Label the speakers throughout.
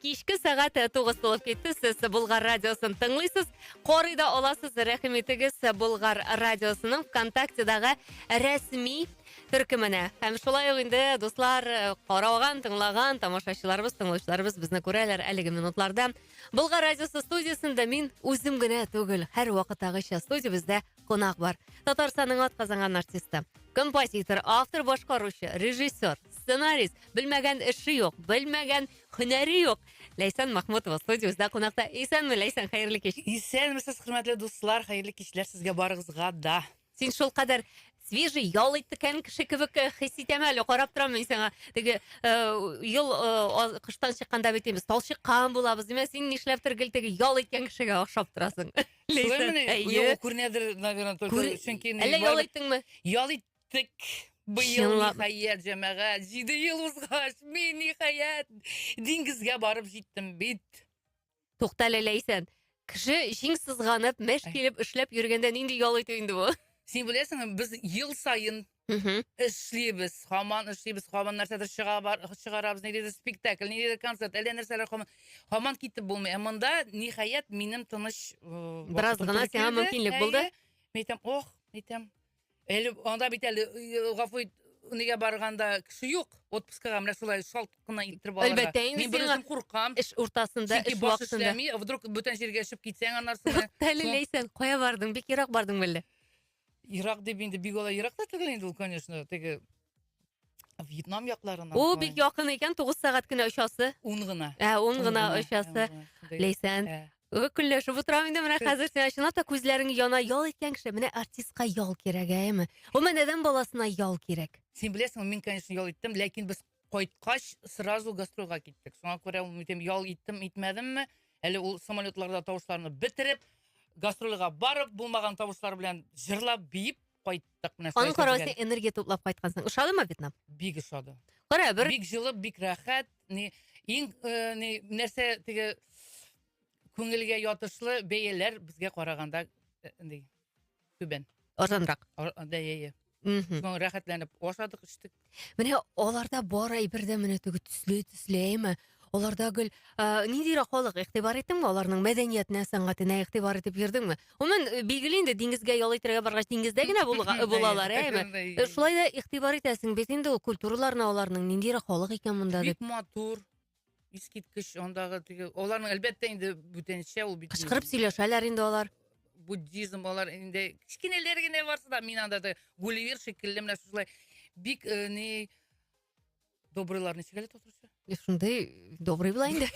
Speaker 1: Кичке сәгать э, тугыз тулып китте. Сез Булгар радиосын тыңлыйсыз. Карый да аласыз. Рәхим итегез э, Булгар радиосының ВКонтактедагы рәсми төркеменә. Һәм шулай ук инде дуслар э, караган, тыңлаган тамашачыларыбыз, тыңлаучыларыбыз безне күрәләр әлеге минутларда. Булгар радиосы студиясендә мин үзем генә түгел, һәр вакытагыча студиябездә кунак бар. Татарстанның атказанган артисты, композитор, автор, башкаручы, режиссер, сценарист, белмәгән эше юк, белмәгән Һөнәре юк. Ләйсән Махмутова студиябездә кунакта. Исәнме, Ләйсән, хәерле кич. Исәнмесез, хөрмәтле
Speaker 2: дуслар, хәерле кичләр сезгә барыгызга да. Син шул кадәр
Speaker 1: свежий ял иткән кеше кебек э, хис итәм әле, карап торам мин сиңа. Теге э, ел э, аз- кыштан чыкканда бит без талчыккан булабыз, димә, син нишләптер гел теге ял иткән кешегә охшап торасың. Солай Ләйсән, мени? әйе.
Speaker 2: Юк, күренәдер, наверное, только Күр- чөнки инде Әллә ял барыбер- иттеңме?
Speaker 1: ял ит- Җиттек.
Speaker 2: Быел Чынлап. ниһаять, җәмәгать, җиде ел узгач, мин ниһаять диңгезгә барып җиттем бит. Тукта әле
Speaker 1: Ләйсән. Кеше җиң сызганып, мәш Ай. килеп эшләп йөргәндә нинди ял итү инде бу? Син беләсеңме, без
Speaker 2: ел саен Мгм. эшлибез, һаман эшлибез, һаман нәрсәдер чыга бар, чыгарабыз, ниндидер спектакль, ниндидер концерт, әллә нәрсәләр һаман, һаман китеп булмый. Ә монда ниһаять минем тыныч э, Бераз вакытым гына
Speaker 1: туры сиңа килде. мөмкинлек булды. Әйе. Мин әйтәм, ох,
Speaker 2: әйтәм, Әле анда бит әле э, гафу ит, нигә барганда кеше юк. Отпускага менә шулай шалт кына иттереп алырга. Әлбәттә, инде Мин сиңа- берүзем
Speaker 1: куркам.
Speaker 2: Эш уртасында, Чөнки
Speaker 1: эш баш вакытында. эшләми, а вдруг бүтән җиргә
Speaker 2: чыгып китсәң аннарсың. Әле ләйсән, кая
Speaker 1: бардың? Бик ерак бардың мәллә? Ерак
Speaker 2: дип инде бик алай ерак та түгел инде ул, конечно, теге Вьетнам якларына. Ул бик якын икән,
Speaker 1: 9 сәгать кенә очасы. Ун гына. Ә, ун
Speaker 2: гына очасы.
Speaker 1: Ләйсән, көлләшеп утырам инде менә хәзер сиңа чынлап та күзләрең яна ял иткән кеше менә артистка ял кирәк әйеме гомумән адәм баласына ял кирәк син беләсеңме мин конечно
Speaker 2: ял иттем ләкин без кайткач сразу гастрольга киттек шуңа күрә үтем ял иттем итмәдемме әле ул самолетларда тавышларны бетереп гастрольга барып булмаган тавышлар белән җырлап биеп кайттык менә Аның каравы син энергия
Speaker 1: туплап кайткансың. Ошадымы Вьетнам? Бик ошады.
Speaker 2: Кара, бер Бик җылы,
Speaker 1: бик рәхәт.
Speaker 2: Ни иң э, ни нәрсә теге күңелгә ятышлы бәяләр безгә караганда э, ни түбән. Арзанрак.
Speaker 1: Ар- Да, я, я.
Speaker 2: Мм. Рәхәтләнеп ашадык, эчтек. Менә аларда
Speaker 1: бар әйбер дә менә теге төсле, төсле, әйме? Аларда гел ә, ниндирәк халык игътибар иттеңме аларның мәдәниятенә, сәнгатенә игътибар итеп йөрдеңме? Гомумән, э, билгеле инде диңгезгә ял итәргә баргач диңгездә генә булга- Әйе, булалар, әйме? әйе, әйе. Э, Шулай да игътибар итәсең бит инде ул культураларына аларның ниндирәк халык икән монда Бик дип. матур.
Speaker 2: Искиткеч, андагы теге аларның әлбәттә инде бүтәнчә ул бит. Кычкырып сөйләшәләр инде
Speaker 1: алар. Буддизм
Speaker 2: алар инде кечкенәләр генә барсы да мин анда да Гулливер шикелле менә шулай бик э, ни добрыйлар ничек әле татарча? Шундый
Speaker 1: добрый була инде.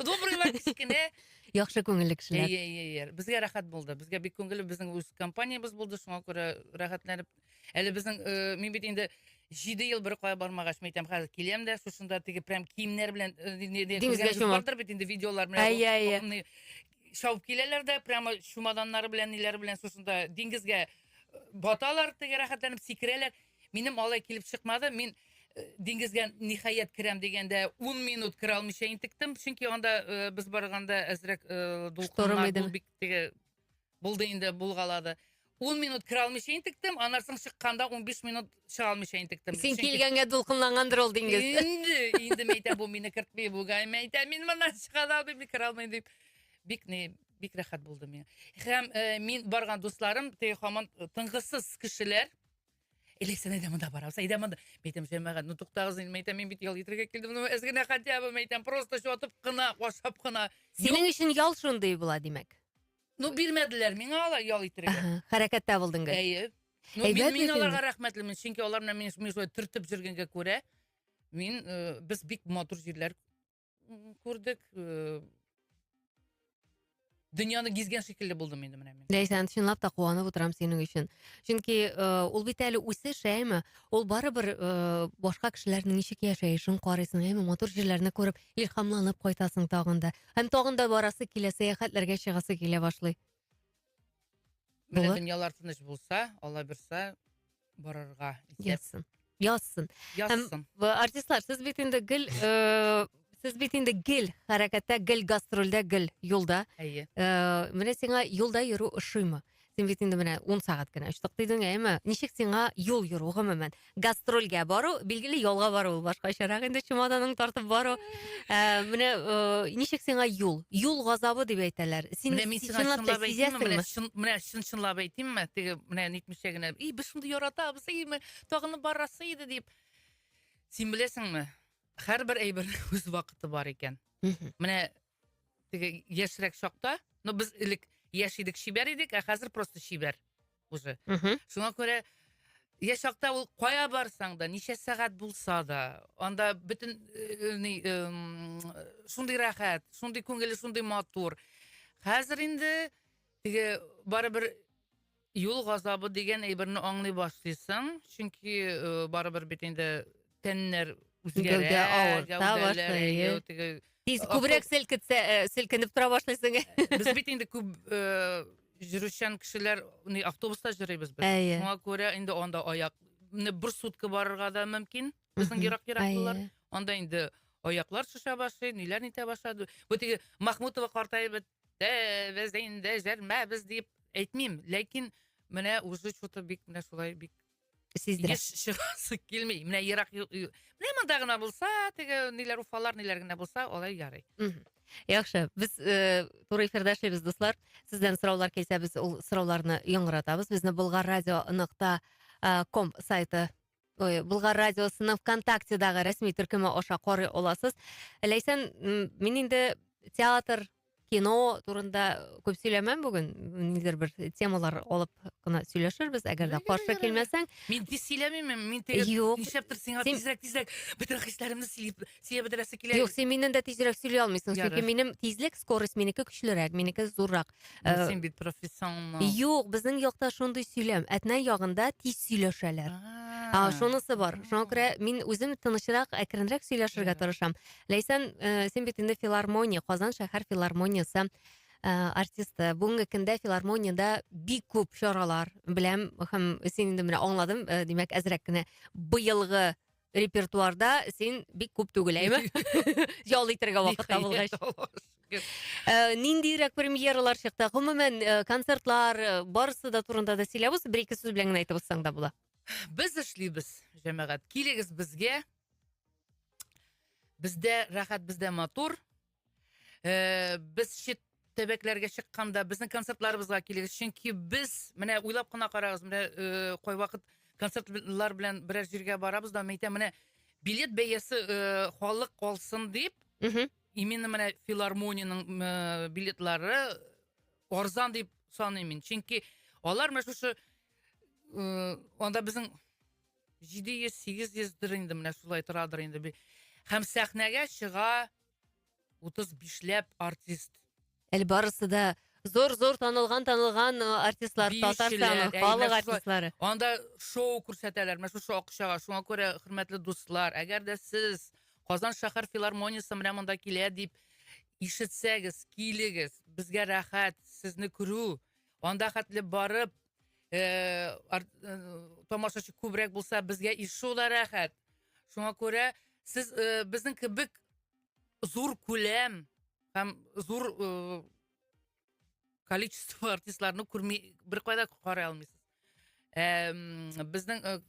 Speaker 2: Добрыйлар кечкенә. Яхшы күңелле
Speaker 1: кешеләр. Әйе, әйе, әйе. Безгә рәхәт булды.
Speaker 2: Безгә бик күңелле, безнең үз компаниябез булды, шуңа күрә рәхәтләнеп Әле безнең, э, мин бит инде җиде ел бер кая бармагач, мин әйтәм, хәзер киләм дә, шушында теге прям киемнәр белән э, не- не- Диңгезгә күргәнегез чумам. бардыр бит инде видеолар менә. Әйе, бу- әйе. ны- Шауып киләләр дә, прямо чумаданнары белән, ниләре белән шушында диңгезгә э, баталар, теге рәхәтләнеп сикерәләр. Минем алай килеп чыкмады. Мин э, диңгезгә ниһаять керәм дигәндә 10 минут керә алмыйча интектем, чөнки анда э, без барганда әзрәк э, Шторм дулкыннар, иде. бу бик теге Булды инде, булгалады. Ун минут керә алмыйча интектем, аннан соң чыкканда унбиш минут чыга алмыйча интектем. Син Чөнки- килгәнгә
Speaker 1: дулкынлангандыр ул диңгез. Инде, инде мәйтә
Speaker 2: бу мине кертми, бугай мәйтә мин моннан чыга да алмыйм, керә алмыйм дип. Бик ни, бик рәхәт булды миңа. Һәм э, мин барган дусларым теге хаман тынгысыз кешеләр. Элек сен әйдә монда барабыз, әйдә монда. Мәйтәм, җәмәгать, ну туктагыз инде, мәйтәм, мин бит ял итәргә килдем, ну әз генә хотя бы, мәйтәм, просто чатып кына, ашап кына. Синең өчен ял
Speaker 1: шундый була, димәк. Ну бирмәделәр
Speaker 2: миңа алар ял итәргә. Хәрәкәттә булдың гел.
Speaker 1: Әйе. Ну,
Speaker 2: мин, мин аларга рәхмәтлемен, чөнки алар менә
Speaker 1: мине
Speaker 2: шулай төртеп җөргәнгә күрә, мин, э, без бик матур җирләр күрдек. Э, дөньяны гизгән шикелле булдым инде менә мин. Ләйсән, чынлап та куанып
Speaker 1: утырам синең өчен. Чөнки э, ул бит әле үсеш, әйме? Ул барыбер э, башка кешеләрнең ничек яшәешен карыйсың, әйме? Матур җирләрне күреп, илһамланып кайтасың тагын да. Һәм тагын да барасы килә, сәяхәтләргә чыгасы килә башлый.
Speaker 2: Менә дөньялар
Speaker 1: тыныч булса,
Speaker 2: Алла бирса, барырга исәп Язсын. Язсын.
Speaker 1: Һәм
Speaker 2: язсын. б- артистлар, сез
Speaker 1: бит инде гел э, сез бит инде гел хәрәкәттә, гел гастрольдә, гел юлда. Әйе. Э,
Speaker 2: менә сиңа
Speaker 1: юлда йөрү ошыймы? Син бит инде менә 10 сәгать кенә очтык дидең, әйме? Ничек сиңа юл йөрү гомумән? Гастрольгә бару, билгеле ялга бару ул башкачарак инде чемоданың тартып бару. Ә, менә э, ничек сиңа юл? Юл газабы дип әйтәләр. Син Менә мин сиңа чынлап та чынлап әйтимме,
Speaker 2: менә сизәсеңме?
Speaker 1: чын-
Speaker 2: менә чын
Speaker 1: чынлап
Speaker 2: әйтимме, теге менә нитмичә генә, и, без шундый яратабыз, и, ме- тагын барасы иде дип. Син беләсеңме, һәрбер әйбернең үз вакыты бар икән. Мгм. Менә теге яшьрәк чакта, ну без элек яшь идек, чибәр идек, ә хәзер просто чибәр. уже шуңа күрә я чакта ул кая барсаң да ничә сәгать булса да анда бөтен шундый рәхәт шундый күңеле шундый матур хәзер инде теге барыбер юл газабы дигән әйберне аңлый башлыйсың чөнки барыбер бит инде тәннәр үзгәрә, гәүдә авырта
Speaker 1: башлый. Тиз
Speaker 2: күбрәк
Speaker 1: селкетсә, э, селкенеп тора башлыйсың. Без бит инде күп
Speaker 2: э, жүрүчән кешеләр, ни автобуста җөрибез без. Шуңа күрә инде
Speaker 1: анда
Speaker 2: аяк, менә бер сутка барырга да мөмкин. Безнең ерак-ераклылар. Анда инде аяклар шуша башлый, ниләр нитә башлады. Бу теге Махмутова картаеп бетте, без инде җәрмәбез дип әйтмим, ләкин менә уже что-то бик менә шулай бик сиздерә. Еш
Speaker 1: чыгасы
Speaker 2: килми. Менә ерак менә монда гына булса, теге ниләр уфалар, ниләр генә булса, алай ярый. Яхшы,
Speaker 1: без э, туры эфирдә эшлибез, дуслар. Сездән сораулар килсә, без ул сорауларны яңгыратабыз. Безне Болгар радио нокта э, ком сайты Ой, Булгар радиосының ВКонтактедагы рәсми төркеме аша карый аласыз. Ләйсән, мин инде театр кино турында күп сөйләмәм бүген ниндидер бер темалар алып кына сөйләшербез әгәр дә каршы килмәсәң мин тиз сөйләмимен
Speaker 2: мин теге юк нишләптер сиңа син...
Speaker 1: тизрәк
Speaker 2: тизрәк
Speaker 1: бөтен
Speaker 2: хисләремне сөйләп сөйләп бетерәсе килә юк син миннән дә тизрәк
Speaker 1: сөйли алмыйсың чөнки минем тизлек
Speaker 2: скорость
Speaker 1: минеке көчлерәк минеке зуррак э, син бит
Speaker 2: профессионал юк безнең якта
Speaker 1: шундый сөйләм әтнә ягында тиз сөйләшәләр а шунысы бар шуңа күрә мин үзем тынычрак әкренрәк сөйләшергә тырышам Ләйсән, э, син бит инде филармония, Казан шәһәр филармониясе э, артисты. Бүгенге көндә филармониядә бик күп чаралар беләм һәм син инде менә аңладым, э, димәк, әзрәк кенә быелгы репертуарда син бик күп түгел, әйме? Ял итәргә вакыт табылгач. Э, ниндирәк премьералар чыкты? Гомумән, э, концертлар, э, барысы да турында да сөйләбез, бер-ике сүз белән генә әйтеп узсаң да була. Без эшлибез,
Speaker 2: җәмәгать. Килегез безгә, Бездә рәхәт, бездә матур. Э, без чит төбәкләргә чыкканда безнең концертларыбызга килегез, чөнки без менә уйлап кына карагыз, менә э, кайвакыт концертлар белән берәр җиргә барабыз да, мәйтә менә билет бәясе э, халык алсын дип, Мгм. именно менә филармониянең э, билетлары арзан дип саныйм мин. Чөнки алар менә шушы э, анда безнең җиде йөз сигез йөздер инде менә шулай торадыр инде һәм сәхнәгә чыга утыз бишләп артист әле барысы
Speaker 1: да зор зор танылган танылган э, артистлар татарстан халык артистлары анда шоу
Speaker 2: күрсәтәләр менә шушы акчага шуңа күрә хөрмәтле дуслар әгәр дә сез казан шәһәр филармониясе менә монда килә дип ишетсәгез килегез безгә рәхәт сезне күрү анда хәтле барып э, ар, э, тамашачы күбрәк булса, безгә иш шулай рәхәт. Шуңа күрә сез э, безнең кебек зур күләм һәм зур э, количество артистларны күрми беркайда карый алмыйсыз. Э, безнең э,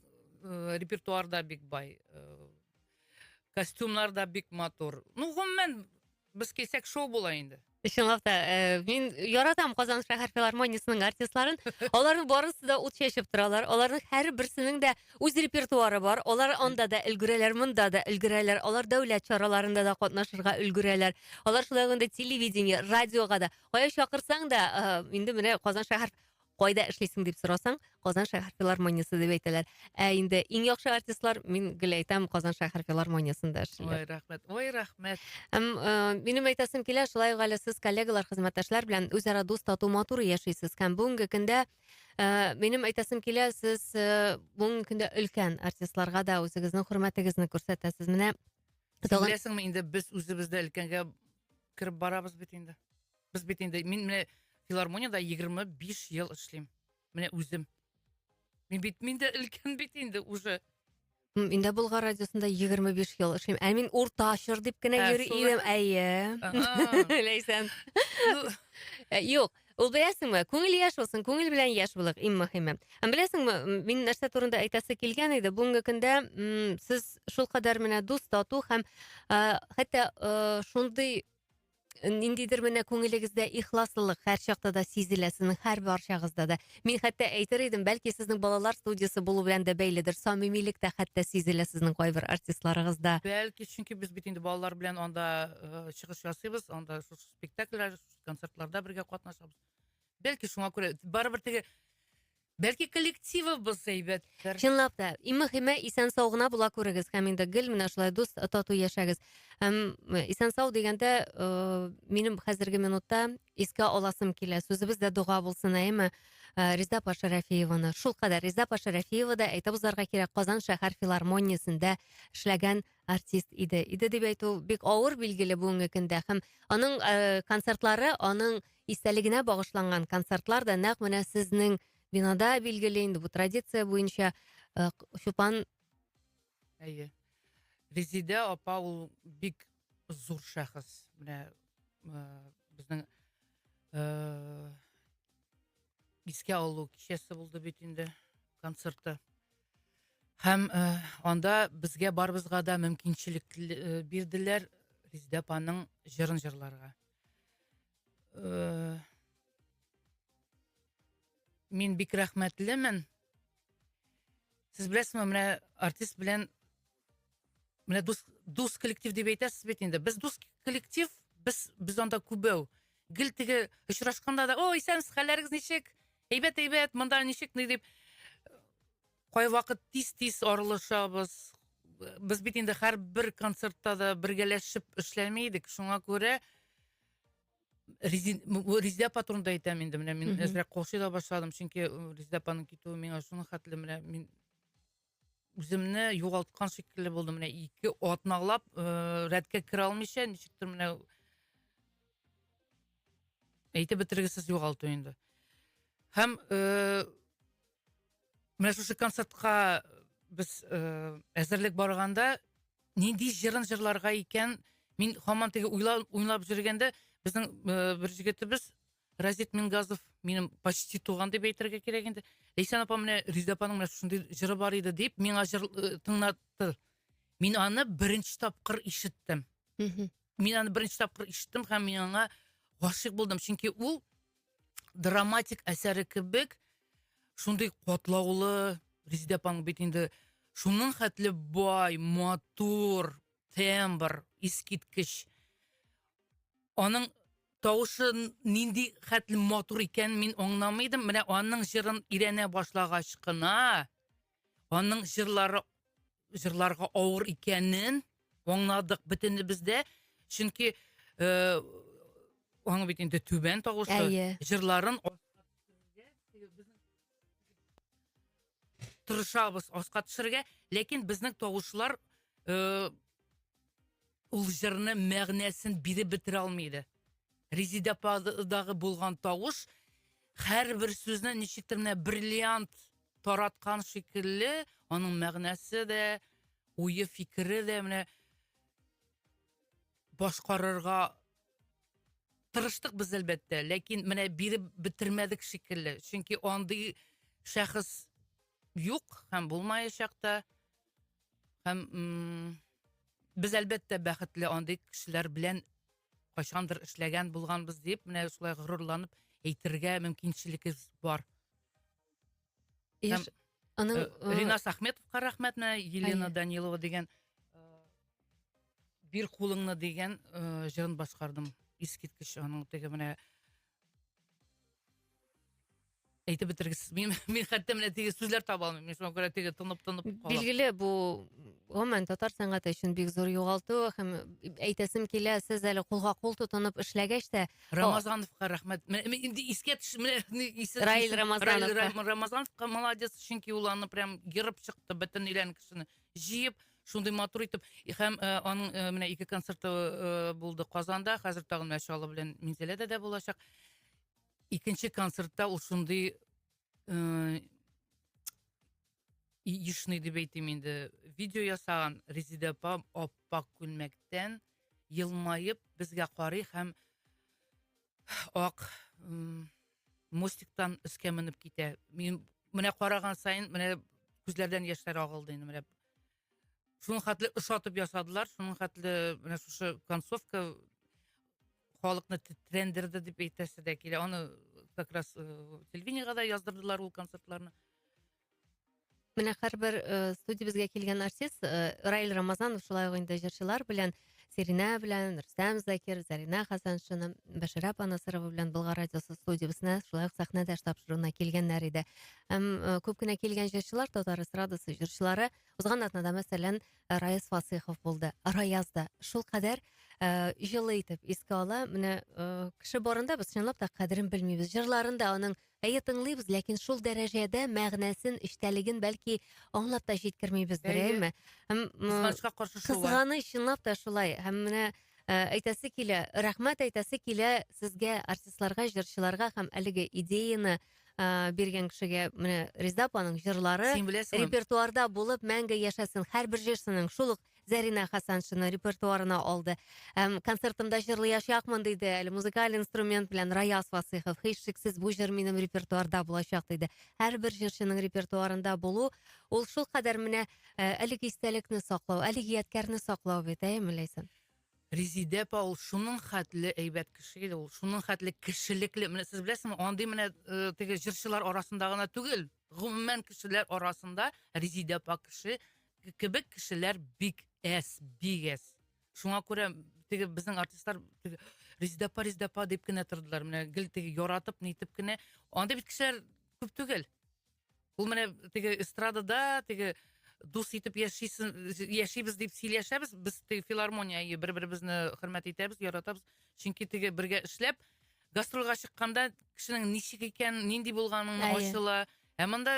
Speaker 2: э, репертуар да бик бай. Э, костюмнар да бик матур. Ну, гомумән, Без килсәк шоу була инде. Чынлап та, э,
Speaker 1: мин яратам Казан шәһәр филармониясенең артистларын. Аларның барысы да ут чәчеп торалар. Аларның һәр берсенең дә үз репертуары бар. Алар анда да өлгерәләр, монда да өлгерәләр. Алар дәүләт чараларында да катнашырга өлгерәләр. Алар шулай ук инде телевидение, радиога да. Кая чакырсаң да, э, инде менә Казан шәһәр Кайда эшлисең дип сорасаң, Казан шәһәр филармониясе дип әйтәләр. Ә инде иң яхшы артистлар, мин гел әйтәм, Казан шәһәр филармониясендә эшлиләр. Ой, рәхмәт. Ой,
Speaker 2: рәхмәт. Һәм э, минем
Speaker 1: әйтәсем килә, шулай ук әле сез коллегалар, хезмәттәшләр белән үзара дус, тату, матур яшисез. Һәм бүгенге көндә э, минем әйтәсем килә, сез э, бүгенге көндә өлкән артистларга да үзегезнең хөрмәтегезне күрсәтәсез. Менә Син тагын- беләсеңме
Speaker 2: инде без үзебез дә өлкәнгә кереп барабыз бит инде. Без бит инде мин менә филармониядә 25 ел эшлим. Менә үзем. Мин бит мин дә өлкән бит инде уже. Инде
Speaker 1: Болгар радиосында 25 ел эшлим. Ә мин урта чор дип кенә ә, йөри идем. Әйе. Ләйсән. Ну, э, юк, Ул беләсеңме, күңел яш булсын, күңел белән яш булык, иң мөһиме. Һәм беләсеңме, мин нәрсә турында әйтәсе килгән иде, бүгенге көндә сез шулкадәр менә дус, тату һәм хәтта шундый ниндидер менә күңелегездә ихласлылык һәр чакта да сизелә сезнең һәр барчагызда да мин хәтта әйтер идем бәлки сезнең балалар студиясе булу белән дә бәйледер самимилек тә хәтта сизелә сезнең кайбер артистларыгызда бәлки чөнки без
Speaker 2: бит инде балалар белән анда э, чыгыш ясыйбыз анда шушы спектакльләр концертларда бергә катнашабыз бәлки шуңа күрә барыбер теге Бәлки коллективыбыз әйбәттер. Чынлап та, иң
Speaker 1: мөхиме исән сау гына була күрегез һәм инде гел менә шулай дус тату яшәгез. Һәм э, исән сау дигәндә э, минем хәзерге минутта искә аласым килә. Сүзебез дә дога булсын, әйеме? Э, Риза Паша Рәфиеваны. Шул кадәр Риза Паша Рәфиева да әйтеп узарга кирәк Казан шәһәр филармониясендә эшләгән артист иде. Иде дип әйтү бик авыр билгеле бүгенге көндә һәм аның э, концертлары, аның истәлегенә багышланган концертлар да нәкъ менә сезнең бинада билгеле инде бу традиция буенча э, чупан
Speaker 2: әйе резидә апа ул бик зур шәхес менә э, безнең э, искә алу кичәсе булды бит инде концерты һәм анда безгә барыбызга да мөмкинчелек бирделәр резидә апаның җырын җырларга Э, мин бик рәхмәтлемен. Сез беләсезме, менә артист белән менә дус, дус коллектив дип әйтәсез бит инде. Без дус коллектив, без без анда күбәү. Гел теге очрашканда да, "О, исәнсез, хәлләрегез ничек? Әйбәт, әйбәт, монда ничек?" дип кайвакыт тиз-тиз аралашабыз. Без бит инде һәрбер концертта да бергәләшеп эшләми идек. Шуңа күрә Резин, Резидә апа турында әйтәм инде менә мин әзрәк кошый да башладым, чөнки Резидә апаның китүе миңа шуның хәтле менә мин үземне югалткан шикелле булдым. Менә ике атналап э, рәткә керә алмыйча, ничектер менә әйтеп бетергесез югалту инде. Һәм э, Менә шушы концертка без э, әзерлек барганда нинди җырын җырларга икән? Мин һаман теге уйлап, уйлап жүргәндә безнең э, бер җегетебез Разит Мингазов минем почти туган дип әйтергә кирәк инде. Лейсан апа менә Риза апаның менә шундый җыры бар иде дип миңа җыр э, тыңлатты. Мин аны беренче тапкыр ишеттем. Мгм. Мин аны беренче тапкыр ишеттем һәм мин аңа гашыйк булдым, чөнки ул драматик әсәре кебек шундый катлаулы резеда апаның бит инде шуның хәтле бай матур тембр искиткеч аның тавышы нинди хәтле матур икән мин аңламый идем менә аның җырын өйрәнә башлагач кына аның җырлары җырларга авыр икәнен аңладык бөтенебез дә. Чөнки э, аның бит инде түбән тавышы, Әйе. җырларын тырышабыз аска төшерергә, ләкин безнең тавышлар э, Ул җырны мәгънәсен биреп бетерә алмый иде. Резидә ападагы булган тавыш һәрбер сүзне ничектер менә бриллиант тараткан шикелле, аның мәгънәсе дә, уе, фикере дә менә башкарырга тырыштык без әлбәттә, ләкин менә биреп бетермәдек шикелле. Чөнки андый шәхес юк һәм булмаячак та. Һәм без әлбәттә бәхетле андый кешеләр белән кайчандыр эшләгән булганбыз дип, менә шулай горурланып әйтергә мөмкинчелегебез бар. Һәм, Аның, э, э, Ринас Ахметовка рәхмәт, менә Елена Данилова дигән э, бир кулыңны дигән җырын башкардым. Искиткеч аның теге менә әйтеп бетергесез мин мин хәтта менә теге сүзләр таба алмыйм мин шуңа күрә теге тынып тынып калам билгеле бу
Speaker 1: гомумән татар сәнгате өчен бик зур югалту һәм әйтәсем килә сез әле кулга кул тотынып эшләгәч тә рамазановка рәхмәт
Speaker 2: менә инде искә төш менә раил
Speaker 1: рамазанов рамазановка молодец
Speaker 2: чөнки ул аны прям ерып чыкты бөтен өйлән кешене җыеп шундый матур итеп һәм э, аның э, менә ике концерты э, булды казанда хәзер тагын менә чаллы белән минзәләдә дә булачак икенче концертта ул шундый яичный дип әйтим инде видео ясаган резида апам аппак күлмәктән елмаеп безгә карый һәм ак мостиктан өскә менеп китә мин менә караган сайын менә күзләрдән яшьләр агылды инде менә шуның хәтле ошатып ясадылар шуның хәтле менә шушы концовка халыкны тетрәндерде дип әйтәсе дә килә аны как раз э, телевидениега да яздырдылар ул концертларны
Speaker 1: менә һәрбер э, студиябезгә килгән артист э, раил рамазанов шулай ук инде җырчылар белән Сиринә белән Рөстәм Закир, Зарина Хасаншина, Бәширә апа Насырова белән Болгар радиосы студиясенә шулай ук сәхнәдәш тапшыруына килгәннәр иде. Һәм э, күп кенә килгән җырчылар татар эстрадасы җырчылары узган атнада мәсәлән Раяз Фасыйхов булды. Раяз да шул кадәр э, җылы итеп искә ала. Менә э, кеше барында без чынлап та кадерен белмибез. Җырларында аның Әйе, тыңлыйбыз, ләкин шул дәрәҗәдә мәгънәсен, эчтәлеген бәлки аңлап та җиткермибездер, Әйе. әйеме? Һәм м, Кызганычка каршы шулай.
Speaker 2: кызганыч чынлап та
Speaker 1: шулай. Һәм менә э, әйтәсе килә, рәхмәт әйтәсе килә сезгә, артистларга, җырчыларга һәм әлеге идеяны э, биргән кешегә. Менә Резеда апаның җырлары Син беләсеңме? репертуарда
Speaker 2: булып
Speaker 1: мәңге яшәсен. Һәрбер җырчының шул ук Зәринә Хасаншина репертуарына алды. Әм, концертымда җырлаячакмын диде, әле музыкаль инструмент белән Раяз Васыйхов. Һичшиксез бу җыр минем репертуарда булачак диде. Һәрбер җырчының репертуарында булу, ул шул кадәр менә э, әлеге истәлекне саклау, әлеге ядкәрне саклау бит, әйеме, Ләйсән? Резидә
Speaker 2: апа ул шуның хәтле әйбәт кеше иде, ул шуның хәтле кешелекле. Менә сез беләсезме, андый менә э, теге җырчылар арасында гына түгел, гомумән кешеләр арасында Резидә апа кеше кебек кешеләр бик әс, бик әс. Шуңа күрә теге безнең артистлар теге Риздапа, Риздапа дип кенә тордылар. Менә гел теге яратып, нитеп кенә. Андый бит кешеләр күп түгел. Ул менә теге эстрадада, теге дус итеп яшисен, яшибез дип сөйләшәбез. Без теге филармония ие бер-беребезне хөрмәт итәбез, яратабыз. Чөнки теге бергә эшләп, гастрольгә чыкканда кешенең ничек икән, нинди булганын ачыла. Ә монда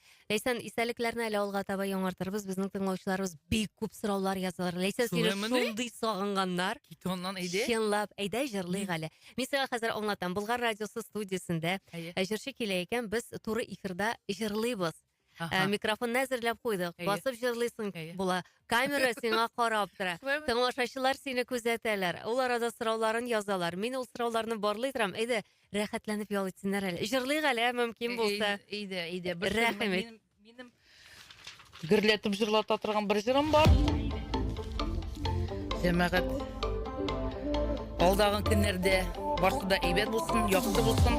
Speaker 1: Ләйсән, истәлекләрне әле алга таба яңартырбыз. Безнең тыңлаучыларыбыз бик күп сораулар язалар. Ләйсән, сине Шулаймыни? шундый сагынганнар. Кит аннан әйдә.
Speaker 2: Чынлап, әйдә җырлыйк
Speaker 1: әле. Мин сиңа хәзер аңлатам. Булгар радиосы студиясендә Әйе. ә, җырчы килә икән, без туры эфирда җырлыйбыз. Ә, Аха. Микрофонны әзерләп куйдык. Әйе. Басып җырлыйсың Әйе. була. Камера сиңа карап тора. Шулаймыни? Тыңлашачылар сине күзәтәләр. Ул арада сорауларын язалар. Мин ул сорауларны барлый торам. Әйдә, Рәхәтләнеп ял итсеннәр әле. Җырлыйк әле, ә, мөмкин булса. Иде, иде. Бер җырым-
Speaker 2: Рәхим ит. минем-
Speaker 1: Минем
Speaker 2: гөрләтеп җырлата торган бер җырым бар. Җәмәгать. Алдагы көннәрдә барсы да әйбәт булсын, яхшы булсын.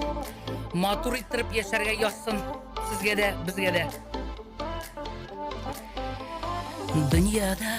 Speaker 2: Матур иттереп яшәргә язсын. Сезгә дә, безгә дә. Дөньяда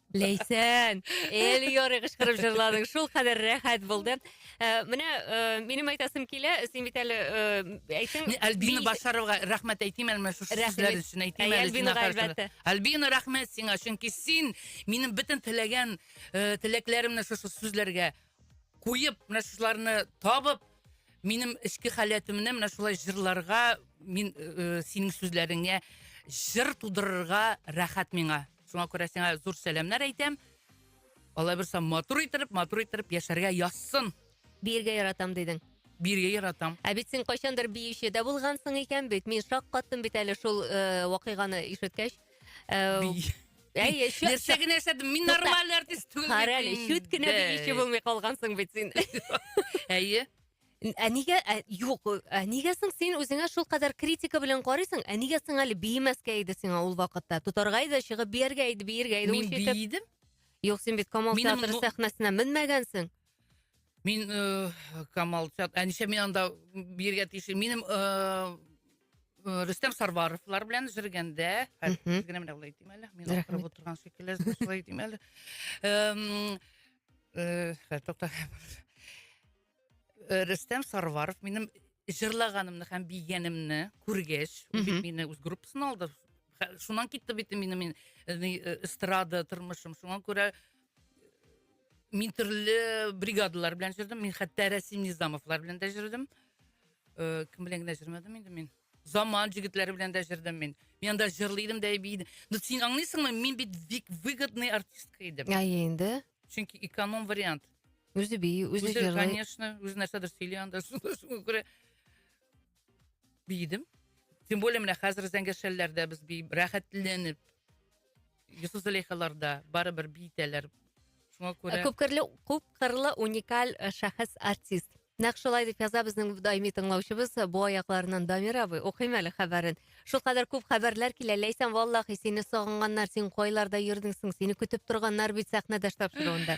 Speaker 2: Ләйсән,
Speaker 1: әле ярый кычкырып җырладың, шул кадәр рәхәт булды. Э, менә э, минем әйтәсем килә, син бит әле э, әйтсең... Мин Альбина Башаровга
Speaker 2: рәхмәт әйтим әле шушы сүзләр өчен әйтим әле. Альбина әлбәттә.
Speaker 1: Альбина рәхмәт
Speaker 2: сиңа, чөнки син минем бөтен теләгән теләкләремне шушы сүзләргә куеп, менә шуларны табып, минем эчке халәтемне менә шулай җырларга, мин синең сүзләреңә җыр тудырырга рәхәт миңа. Шуңа күрә сиңа зур сәламнәр әйтәм. Алла бирса матур иттереп, матур иттереп яшәргә язсын. Биергә яратам
Speaker 1: дидең. Биергә яратам.
Speaker 2: Ә бит син кайчандыр
Speaker 1: биюче дә булгансың икән бит. Мин шак каттым бит әле шул э, вакыйганы ишеткәч. Э, Би... Әй, чү-
Speaker 2: Нәрсә генә эшләдем? Мин Тукта. нормаль артист түгел. Кара әле, чүт кенә
Speaker 1: биюче булмый калгансың бит син. Әйе.
Speaker 2: Ә нигә ә, юк,
Speaker 1: ә нигә соң син үзеңә шул кадәр критика белән карыйсың? Ә нигә соң әле биемәскә иде сиңа ул вакытта? Тотарга иде, чыгып бияргә иде, биергә иде. Мин биедем.
Speaker 2: Юк, син бит
Speaker 1: Камал театры сәхнәсенә менмәгәнсең. Мин
Speaker 2: э, Камал театры, ә ничә мин анда биергә тиеш? Минем э, э, Рөстәм Сарваровлар белән җыргәндә, генә менә булай димәле. Мин укырып утырган шикелле, шулай димәле. Э, э, тукта. Э, Рөстәм Сарваров минем җырлаганымны һәм бигәнемне күргәч, ул бит мине үз группасына алды. Хә- Шуннан китте бит минем мин, э, ни, э, эстрада тормышым. Шуңа күрә э, мин төрле бригадалар белән җырдым. Мин хәтта Рәсим Низамовлар белән дә җырдым. Э, Кем белән генә җырмадым инде мин. Заман җегетләре белән дә җырдым мин. Мин анда җырлыйдым да бийдем. Ну син аңлыйсыңмы, мин бит бик выгодный артистка идем. Әйе инде. чөнки
Speaker 1: эконом
Speaker 2: вариант үзе би
Speaker 1: үзе җырлый конечно үзе нәрсәдер
Speaker 2: сөйли анда шуңа күрә биедем тем более менә хәзер зәңгәшәлләрдә без би рәхәтләнеп йосыф зөләйхаларда барыбер биетәләр шуңа күрә күп кырлы
Speaker 1: уникаль э, шәхес артист Нәкъ шулай дип яза безнең даими тыңлаучыбыз Бу аякларыннан Дамир абый. Укыйм әле хәбәрен. Шул кадәр күп хәбәрләр килә. Ләйсән, валлахи, сине сагынганнар, син кайларда йөрдең соң? Сине көтеп торганнар бит сәхнәдәш тапшыруында.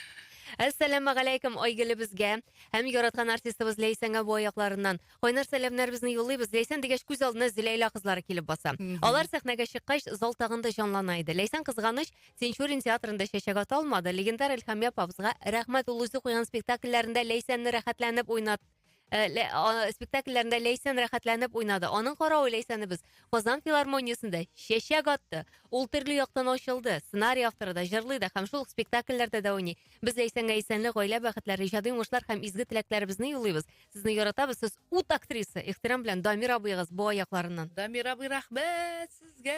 Speaker 1: Әссәламә галәйкем Айгелебезгә һәм яраткан артистыбыз Ләйсәнгә бу аякларыннан кайнар сәламнәребезне юллыйбыз. Ләйсән дигәч күз алдына Зиләйлә кызлары килеп баса. Алар сәхнәгә чыккач, зал тагын да җанлана иде. Ләйсән кызганыч Тинчурин театрында чәчәк ата алмады. Легендар Эльхамия Павзга рәхмәт ул үзе куйган спектакльләрендә Ләйсәнне рәхәтләнеп уйнат э, лә, а, спектакльләрендә Ләйсән рәхәтләнеп уйнады. Аның каравы Ләйсәнне без Казан филармониясендә чәчәк атты. Ул төрле яктан ачылды. Сценарий авторы да, җырлый да һәм шул ук спектакльләрдә дә уйный. Без Ләйсәнгә исәнлек, гаилә бәхетләре, иҗади уңышлар һәм изге теләкләребезне юллыйбыз. Сезне яратабыз, сез ут актриса. Ихтирам белән Дамир абыегыз бу аякларыннан. Дамир абый,
Speaker 2: рәхмәт сезгә.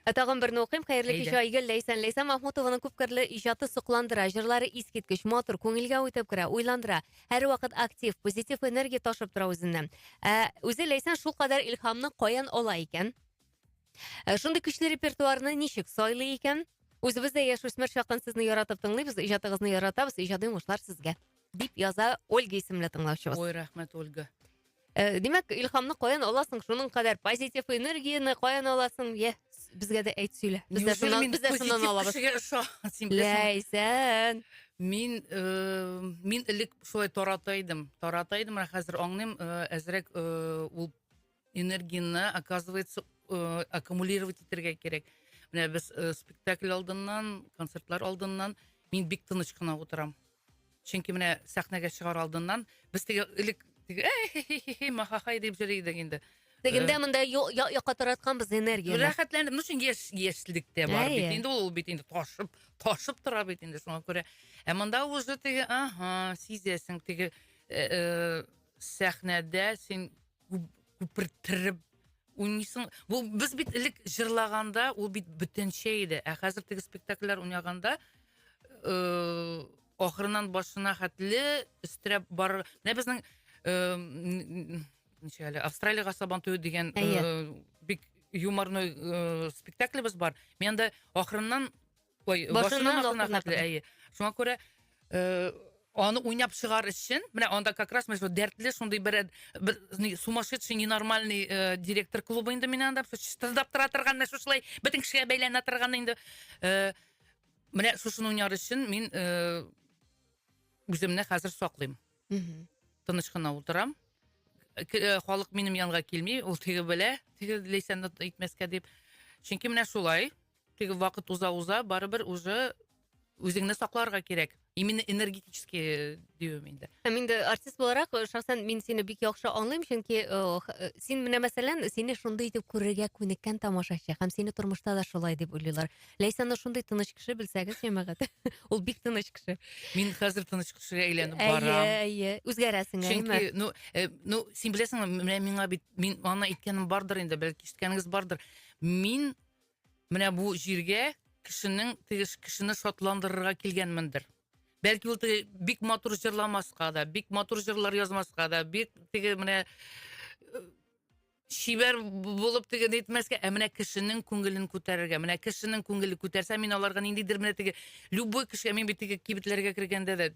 Speaker 2: Ә тагын берне укыйм.
Speaker 1: Хәерле кич, Айгөл Ләйсән. Ләйсән Махмутованың күпкерле иҗаты сокландыра, җырлары искиткеч, матур, күңелгә үтеп керә, уйландыра. Һәрвакыт актив, позитив энергия ташып тора үзеннән. Ә үзе Ләйсән шулкадәр илһамны каян ала икән? Ә шундый көчле репертуарны ничек сайлый икән? Үзебез дә яшүсмер чакын сезне яратып тыңлыйбыз, иҗатыгызны яратабыз, иҗади уңышлар сезгә. Дип яза Ольга исемле тыңлаучыбыз. Ой, рәхмәт, Ольга.
Speaker 2: Э, димәк,
Speaker 1: илхамны каян аласың? Шуның кадәр позитив энергияне каян аласың? Йә, безгә дә әйт сөйлә. Без дә шуннан, без дә шуннан алабыз. Ләйсән. Мин
Speaker 2: э, мин элек шулай тарата идем. Тарата идем, ә хәзер аңлыйм, э, әзрәк ул энергияне оказывается э, аккумулировать итәргә кирәк менә без э, спектакль алдыннан концертлар алдыннан мин бик тыныч кына утырам чөнки менә сәхнәгә чыгар алдыннан без теге элек теге махахай дип җырлый идек инде Дегендә э, монда
Speaker 1: якка таратканбыз энергия. Рәхәтләнеп, ну чын яшь
Speaker 2: яшьлектә бар бит. Инде ул бит инде ташып, ташып тора бит инде шуңа күрә. Ә монда уже теге, ага, сизәсең теге э, э, сәхнәдә син күперттереп уйныйсың ул без бит элек җырлаганда ул бит бөтенчә иде ә хәзер теге спектакльләр уйнаганда э, ахырыннан башына хәтле өстерәп бар менә безнең э, ничек әле австралиягә сабан туе дигән э, бик юморной э, спектаклебез бар мен анда ахырыннан Ой, башыннан алтын әйе. Шуңа күрә э, аны уйнап чыгар өчен, менә анда как раз мәсәлән дәртле шундый бер бер сумасшедший ненормальный э, директор клубы инде мин анда чистырдап тора торган менә шушылай бөтен кешегә бәйләнә торган инде. Э, менә шушыны уйнар өчен мин э, үземне хәзер саклыйм. Мм. Тыныч кына утырам. Э, халык минем янга килми, ул тиге белә, тиге ләйсәнне итмәскә дип. Чөнки менә шулай. Теге вакыт уза-уза, барыбер уже үзеңне сакларга кирәк. Именно энергетически дию мин дә. Һәм инде артист
Speaker 1: буларак, э, шәхсән мин сине бик яхшы аңлыйм, чөнки э, х- э, син менә мәсәлән, сине шундый итеп күрергә күнеккән тамашачы һәм сине тормышта да шулай дип уйлыйлар. Ләйсәнне шундый тыныч кеше белсәгез, җәмәгать. Ул бик тыныч кеше. Мин хәзер тыныч
Speaker 2: кешегә әйләнеп Әйе, барам. әйе. Үзгәрәсең, әйеме? Чөнки,
Speaker 1: ну, э, ну, син
Speaker 2: беләсеңме, менә миңа бит, мин аны әйткәнем бардыр инде, бәлки ишеткәнегез бардыр. Мин Менә бу җиргә кешенең тегеш кешене шатландырырга килгәнмендер. Бәлки ул теге бик матур җырламаска да, бик матур җырлар язмаска да, бик теге менә э, чибәр булып теге нитмәскә, ә менә кешенең күңелен күтәрергә. Менә кешенең күңеле күтәрсә, мин аларга ниндидер менә теге любой кешегә мин бит теге кибетләргә кергәндә дә,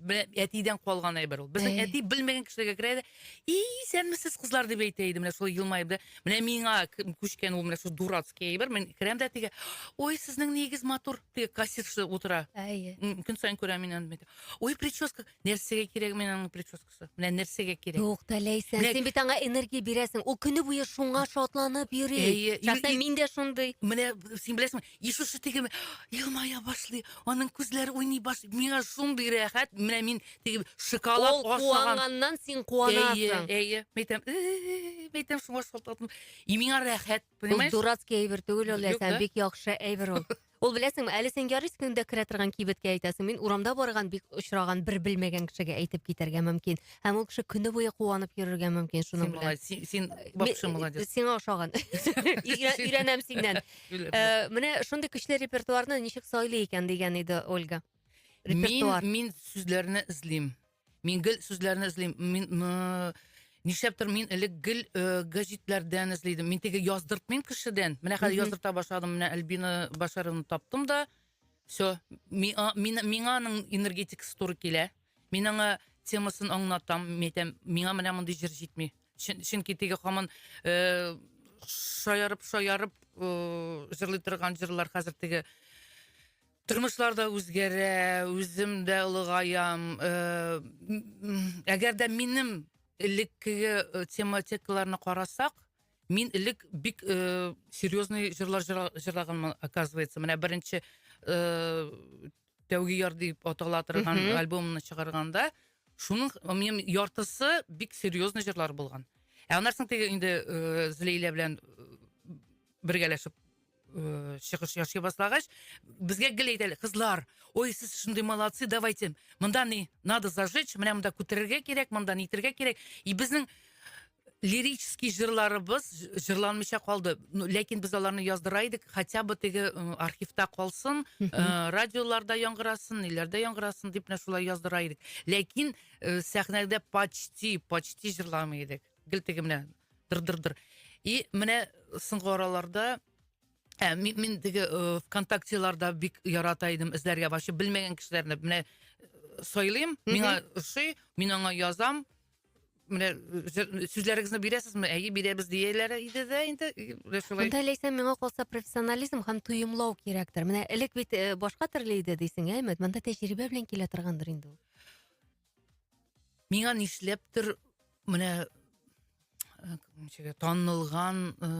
Speaker 2: әтидән калган әйбер ул. Безнең әти белмәгән кешеләргә керә дә, И, исәнмесез, кызлар, дип әйтә иде, менә шулай елмаеп да. Менә миңа күчкән ул менә шул дурацкий әйбер. Мин керәм дә теге, ой, сезнең нигез матур, теге кассирша утыра. Әйе. Көн саен күрәм мин аны. Ой, прическа, нәрсәгә кирәк мин аның прическасы? Менә нәрсәгә кирәк? Юк, та Ләйсән, Менә- син
Speaker 1: бит аңа энергия бирәсең. Ул көне буе шуңа шатланып йөри. Әйе. Шәхсән мин дә шундый. Менә син беләсеңме,
Speaker 2: Иисус теге елмая башлый, аның күзләре уйный башлый. Миңа шундый рәхәт, менә мин теге шоколад Ул ашаган. куанганнан син Әйе,
Speaker 1: куанасың. әйе. Мәйтәм, «Э-э-э»,
Speaker 2: мәйтәм шуңа шалтатым. И миңа рәхәт, Ул понимаешь? дурацкий әйбер түгел
Speaker 1: ул, Юк, Ләйсән, да? бик яхшы әйбер ул. Ул беләсеңме, әле син ярыйс көндә керә торган кибеткә әйтәсең. Мин урамда барган бик очраган бер белмәгән кешегә әйтеп китәргә мөмкин. Һәм ул кеше көне буе куанып йөрергә мөмкин Син шуның белән. молодец, син- син вообще
Speaker 2: Ме- молодец. Сиңа ошаган.
Speaker 1: Өйрә- Өйрәнәм синнән. Менә шундый көчле репертуарны ничек сайлый икән дигән иде Ольга. Репертуар. Мин, мин сүзләрне
Speaker 2: эзлим. Мин гел сүзләрне эзлим. Мин нишләптер мин элек гел э, гәҗитләрдән эзли идем. Мин теге яздыртмыйм кешедән. Менә хәзер яздырта башладым. Менә Альбина Башаровны таптым да. Все. Миңа аның энергетикасы туры килә. Мин аңа темасын аңлатам, мин әйтәм, миңа менә мондый җыр җитми. Чөн- Чөнки теге хаман э, шаярып шаярып э, җырлый торган җырлар хәзер теге тормышлар да үзгәрә, үзем дә олыгаям. Э, м- Әгәр дә минем элеккеге э, тематикаларны карасак, мин элек бик э, серьезный җырлар җыра- җырлаганмын, оказывается. Менә беренче э, тәүге яр дип атала торган Мгм. альбомны чыгарганда шуның минем яртысы бик серьезный җырлар булган ә аннан соң теге инде э, злейлә белән э, бергәләшеп э, чыгыш ясый башлагач безгә гел әйтәләр кызлар ой сез шундый молодцы давайте монда не надо зажечь менә монда күтәрергә кирәк монда нитергә кирәк и безнең лирический җырларыбыз җырланмыйча калды. Ну, ләкин без аларны яздыра идек, хотя бы теге м, архивта калсын, э, радиоларда яңгырасын, ниләрдә яңгырасын дип менә шулай яздыра идек. Ләкин э, сәхнәдә почти, почти җырламый идек. Гел теге менә дыр-дыр-дыр. И менә соңгы араларда Ә, мин, мин теге э, ВКонтактеларда бик ярата идем эзләргә. Вообще белмәгән кешеләрне менә э, сайлыйм, миңа ошый, мин аңа язам, менә сүзләрегезне бирәсезме әйе бирәбез дияләр иде дә инде шулай монда ләйсән миңа калса
Speaker 1: профессионализм һәм тоемлау кирәктер менә элек бит э, башка төрле иде дисең ә өмет монда тәҗрибә белән килә торгандыр инде ул миңа
Speaker 2: нишләптер менә э, ничеге танылган э,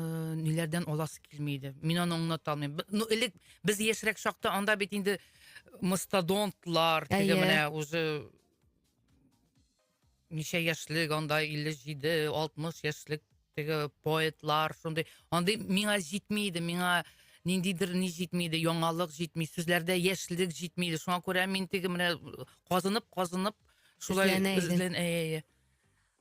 Speaker 2: ниләрдән аласы килми иде мин аны аңлата алмыйм ну элек без яшьрәк чакта анда бит инде мастодонтлар теге менә уже ничә яшьлек анда 57-60 яшьлек теге поэтлар шундый андый миңа җитми иде миңа ниндидер ни җитми иде яңалык җитми сүзләрдә яшьлек җитми иде шуңа күрә мин теге менә казынып казынып шулай эзләнә
Speaker 1: иде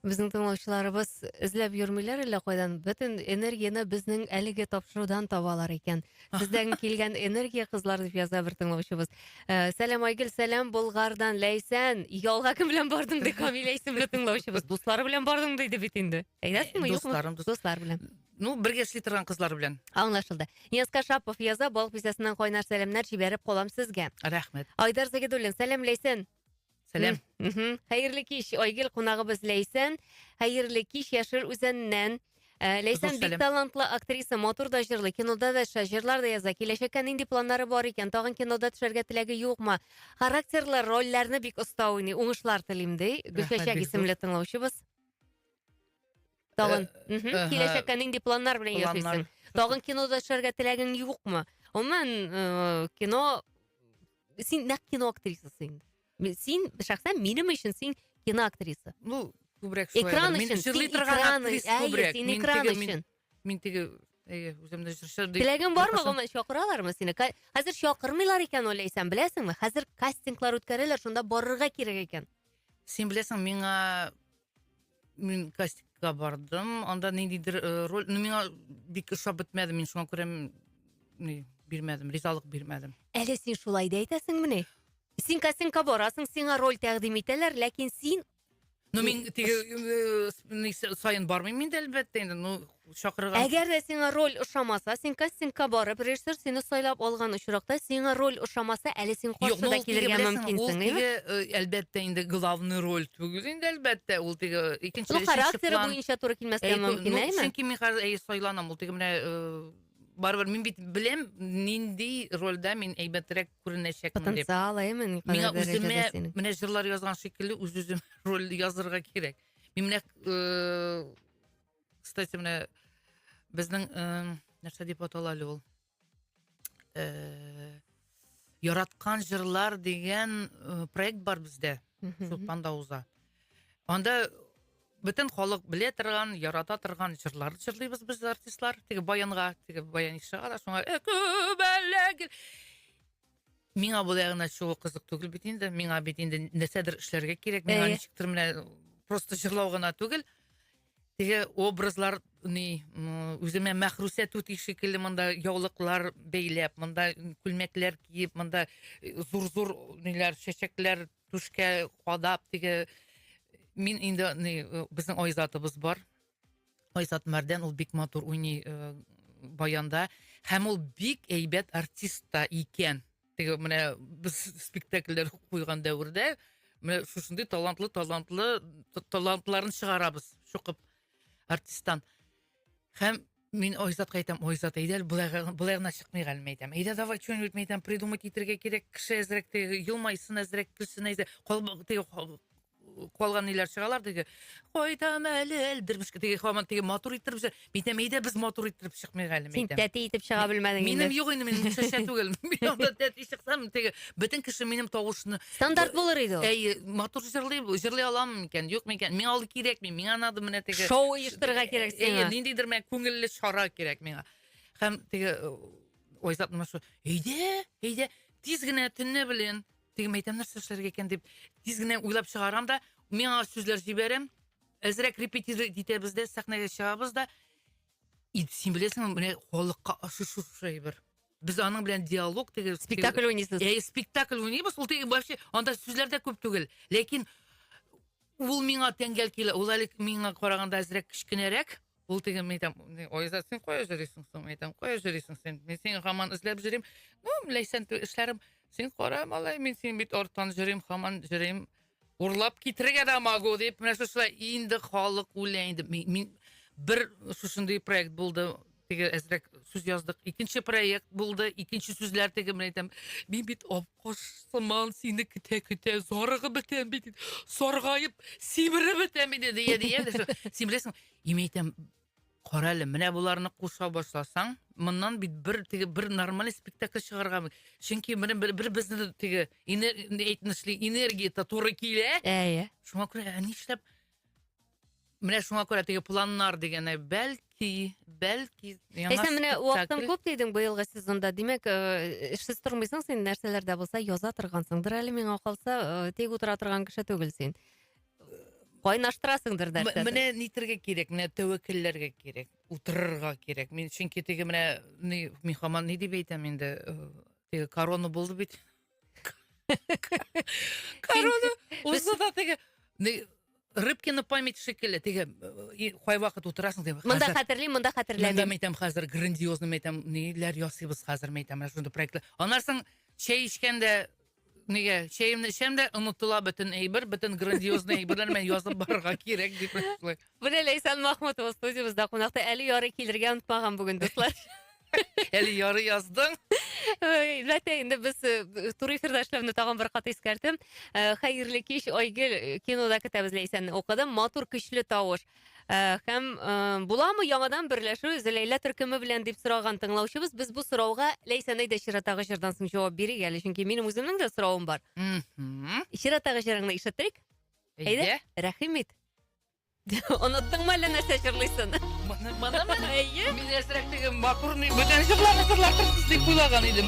Speaker 2: Безнең
Speaker 1: тыңлаучыларыбыз эзләп йөрмиләр әллә кайдан. Бөтен энергияне безнең әлеге тапшырудан табалар икән. Сездән килгән энергия кызлар дип яза бер тыңлаучыбыз. Э, Сәлам Айгөл, сәлам Болгардан, Ләйсән. Ялга кем белән бардың ди Камилә исемле тыңлаучыбыз. Дуслары белән бардың диде бит инде. Әйдәсеңме, юкмы? Дусларым, дус- Дуслар белән. Ну, бергә эшли
Speaker 2: торган кызлар белән. Аңлашылды. Нияска
Speaker 1: Шапов яза, балык бистәсеннән кайнар сәламнәр җибәреп калам сезгә. Рәхмәт. Айдар
Speaker 2: Загидуллин,
Speaker 1: сәлам Ләйсән. Сәләм.
Speaker 2: Мгм. Хәерле
Speaker 1: кич, Айгел кунагыбыз Ләйсән. Хәерле кич, Яшел Үзәннән. Ә, Ләйсән Зур бик сәлам. талантлы актриса, матур да җырлый, кинода да төшә, җырлар да яза. Киләчәккә нинди планнары бар икән? Тагын кинода төшәргә теләге юкмы? Характерлы рольләрне бик оста уйный. Уңышлар телим, ди. Гөлчәчәк бик зур. исемле тыңлаучыбыз. Тагын. Э, Мгм. эһе.
Speaker 2: Киләчәккә нинди планнар
Speaker 1: белән Планнар. яшисең? Тагын
Speaker 2: кинода
Speaker 1: эшләргә теләгең юкмы? Гомумән, э, кино син нәкъ кино актрисасы инде. Ми- Син шәхсән минем өчен син кино актриса. Ну, күбрәк шулай.
Speaker 2: Экран Мин өчен, син җырлый
Speaker 1: торган экран
Speaker 2: актриса өчен. Әйе,
Speaker 1: күбрәк.
Speaker 2: син Мин
Speaker 1: экран
Speaker 2: теге-
Speaker 1: мин- өчен. Мин теге,
Speaker 2: әйе, үземне җырчы дип. Теләгең бармы, Кайсың? гомумән,
Speaker 1: чакыралармы сине? Ка- Хәзер чакырмыйлар икән, уйлайсаң, беләсеңме? Хәзер кастинглар үткәрәләр, шунда барырга кирәк икән. Син беләсең,
Speaker 2: миңа Мин кастингка бардым, анда ниндидер э, роль, ну миңа бик ошап бетмәде, мин шуңа күрә м, ни, бирмәдем, ризалык бирмәдем. Әле син шулай да
Speaker 1: әйтәсеңмени? Син кастингка барасың, сиңа роль тәкъдим итәләр, ләкин син Ну мин
Speaker 2: теге э, с- ни, с- саен бармыйм инде әлбәттә инде, ну чакырган. Әгәр дә сиңа роль
Speaker 1: ошамаса, син кастингка барып, режиссер сине сайлап алган очракта, сиңа роль ошамаса, әле син Юк, каршы ну, да ул теге, килергә беләсең, ул мөмкинсең, теге, әйеме?
Speaker 2: э, әлбәттә, инде главный роль түгел инде, әлбәттә, ул теге икенче, Ну, өченче характеры план. буенча
Speaker 1: туры килмәскә Әй, мөмкин, ну, әйеме? чөнки мин хәзер әй,
Speaker 2: сайланам, ул теге менә э, барыбер мин бит беләм, нинди рольдә мин әйбәтрәк күренәчәкмен дип. Потенциал, әйеме, Миңа никадәр дәрәҗәдә
Speaker 1: үземә синең?
Speaker 2: менә
Speaker 1: җырлар
Speaker 2: язган
Speaker 1: шикелле
Speaker 2: үз-үзем роль язырга кирәк. Мин менә э, кстати менә безнең нәрсә дип атала әле ул яраткан җырлар дигән проект бар бездә чулпанда уза анда бөтен халык белә торган ярата торган җырлар җырлыйбыз без артистлар теге баянга теге баян чыга да шуңа миңа болай гына чыгу кызык түгел бит инде миңа бит инде нәрсәдер эшләргә кирәк миңа ничектер менә просто җырлау гына түгел теге образлар ни үземә мәхрүсә түти шикелле монда яулыклар бәйләп монда күлмәкләр киеп монда э, зур зур ниләр чәчәкләр түшкә кадап теге мин инде ни э, безнең айзатыбыз бар айзат мәрдән ул бик матур уйный э, баянда һәм ул бик әйбәт артист та икән теге менә без спектакльләр куйган дәвердә менә шушындый талантлы талантлы талантларын чыгарабыз шукып артисттан һәм мин айзатка әйтәм айзат әйдә былай былай гына чыкмый әле мен әйтәм әйдә давай что нибудь мен әйтәм придумать итәргә кирәк кеше әзрәк елмайсын әзрәк көлсен әзрәк теге калган ниләр чыгалар теге кайтам әле әлдермешкә теге хаман теге матур иттереп чыга. Мин әйтәм, әйдә без матур иттереп чыкмыйк әле. Син тәти итеп чыга
Speaker 1: белмәдең
Speaker 2: инде.
Speaker 1: Минем юк инде, мин шешә түгел.
Speaker 2: Мин анда тәти чыксам, теге бөтен кеше минем тавышны Стандарт булыр иде
Speaker 1: ул. Әй, матур җырлый,
Speaker 2: җырлый алам микән, юк микән? Миңа ул кирәкми, миңа надо менә теге Шоу оештырырга кирәк
Speaker 1: сиңа. Ниндидер менә күңелле
Speaker 2: чара кирәк миңа. Һәм теге Айзат менә шу, әйдә, әйдә, тиз генә төнне белән Теге мәйтәм нәрсә эшләргә икән дип, тиз генә уйлап чыгарам да, миңа сүзләр җибәрәм. Әзрәк репетировать итәбез дә, сәхнәгә чыгабыз да. И, син беләсеңме, менә халыкка ошый шушы әйбер. Без аның белән диалог теге спектакль уйныйсыз. Ә
Speaker 1: спектакль уйныйбыз,
Speaker 2: ул теге вообще анда сүзләр дә күп түгел. Ләкин ул миңа тәңгәл килә. Ул әле миңа караганда әзрәк кечкенәрәк. Ул теге мен әйтәм, Айзат, син кая йөрисең соң? Мен әйтәм, кая йөрисең син? Мин сине хаман эзләп йөрим. Ну, ләйсән ту эшләрем. Син кара, малай, мин син бит арттан йөрим, хаман йөрим. Урлап китерергә дә могу дип, менә шушылай инде халык үлә инде. Мин бер шушындый проект булды, теге әзрәк сүз яздык. Икенче проект булды, икенче сүзләр теге мен әйтәм. Мин бит апкош сыман сине көтә-көтә зарыгып бетәм бит. Саргаеп, симереп бетәм инде дия дия. Симерәсең. И мен айтам карале менә боларны куса башласаң моннан бит бер теге бер нормальный спектакль чыгарга чөнки менә бер бер безне теге әйтмешли энергия то туры килә әйе шуңа күрә ә нишләп менә шуңа күрә теге планнар дигәне бәлки бәлки
Speaker 1: яңа менә вакытың күп дидең быелгы сезонда димәк э, эшсез тормыйсың син нәрсәләр дә булса яза торгансыңдыр әле миңа калса э, тик утыра торган кеше түгел син кайнаштырасыңдыр М- нәрсәдер. Менә нитергә кирәк,
Speaker 2: менә тәвәккәлләргә кирәк, утырырга кирәк. Мин чөнки теге менә ни мин хаман ни дип әйтәм инде, э, теге корона булды бит. Корона узды да теге ни Рыбкина память шикелле, теге э, и кайвакыт утырасың дип. Монда хәзер- хәтерлим, монда Мында
Speaker 1: хәтерләмим. мәйтәм хәзер
Speaker 2: грандиозный мәйтәм ниләр ясыйбыз хәзер мәйтәм менә шундый проектлар. Аннан соң чәй эчкәндә Нигә? Чәемне эчәм дә онытыла бөтен әйбер, бөтен грандиозный әйберләр мен язып барырга кирәк дип шулай. Бүлә Ләйсән
Speaker 1: Махмутова студиябездә кунакта әле ярый килергә онытмаган бүген дуслар. Әле
Speaker 2: яры яздың. Ләтә
Speaker 1: инде без э, туры эфирда эшләүне тагын бер кат искәртәм. Э, Хәерле кич, Айгөл э, кинода көтәбез Ләйсәнне укыдым. Матур көчле тавыш. Ә, һәм ә, буламы яңадан берләшү Зәләйлә төркеме белән дип сораган тыңлаучыбыз, без бу сорауга Ләйсән әйдә чираттагы җырдан соң җавап бирик әле, чөнки минем үземнең дә соравым бар. Мгм. Чираттагы җырыңны ишетик. Әйдә. Әйдә. Рәхим ит. Оныттыңмы әллә нәрсә җырлыйсын? Моны монымы?
Speaker 2: Әйе. Мин әзрәк теге макурный бүтән җырларны җырларсыз дип уйлаган идем.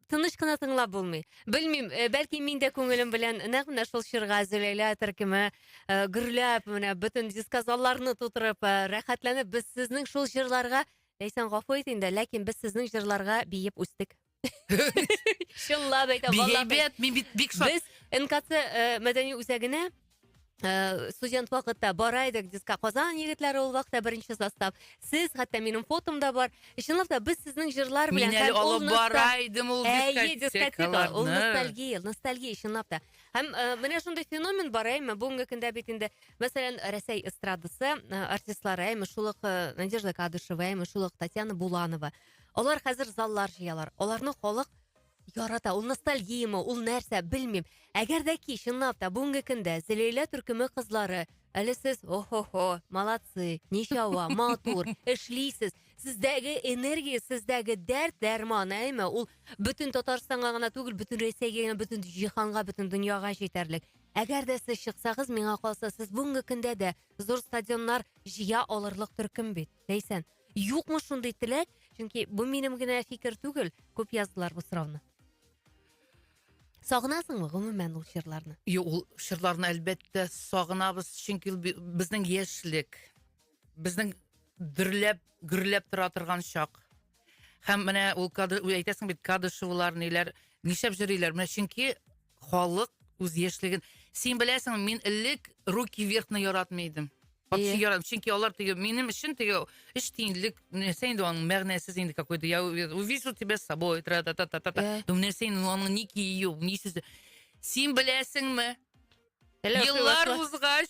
Speaker 1: тыныч кына тыңлап булмый. Белмим, э, бәлки мин дә күңелем белән нәкъ менә шул чорга Зөләйлә төркеме э, гөрләп, менә бөтен дискозалларны тутырып, э, рәхәтләнеп без сезнең шул җырларга, Ләйсән гафу ит инде, ләкин без сезнең җырларга биеп үстек. Чынлап әйтәм, Бик валлахи. әйбәт, мин бит бик шат.
Speaker 2: Без НКЦ э,
Speaker 1: мәдәни үзәгенә Э, студент вакытта бара идек дискка казан егетләре ул вакытта беренче состав сез хәтта минем фотом да бар чынлап та без сезнең җырлар белән мин әле алып бара
Speaker 2: идем ул дискотека
Speaker 1: ул ностальгия ностальгия
Speaker 2: чынлап та
Speaker 1: һәм э, менә шундый феномен бар әйме бүгенге көндә бит инде мәсәлән рәсәй эстрадасы э, артистлары әйме шул ук надежда кадышева әйме шул ук татьяна буланова алар хәзер заллар җыялар аларны халык ярата ул ностальгияме ул нәрсә белмим әгәр дә ки чынлап та бүгенге көндә зәлилә төркеме кызлары әле сез охо-хо молодцы ничауа матур эшлисез сездәге энергия сездәге дәрт дәрман әйме ул бөтен татарстанга гына түгел бөтен рәсәйгә генә бөтен җиһанга бөтен дөньяга җитәрлек әгәр дә сез чыксагыз миңа калса сез бүгенге көндә дә зур стадионнар җыя алырлык төркем бит Ләйсән, юкмы шундый теләк? Чөнки бу минем генә фикер түгел, күп яздылар бу сорауны. Сагынасыңмы гомумән ул чырларны? Юк, ул чырларны
Speaker 2: әлбәттә сагынабыз, чөнки безнең яшьлек, безнең дөрләп, гөрләп тора торган чак. Һәм менә ул кадр, әйтәсең бит, кадышевлар ниләр, нишләп җырлыйлар? Менә чөнки халык үз яшьлеген. Син беләсең, мин элек руки вверхны яратмый идем. Вообще yeah. яратмый. Чөнки алар теге минем өчен теге эш тиңлек, нәрсә инде аның мәгънәсез инде какой-то. Я увижу тебя с собой, тра та та та та. Yeah. Думаю, нәрсә инде аның ни киюе, ни сүзе. Син беләсеңме? Еллар узгач,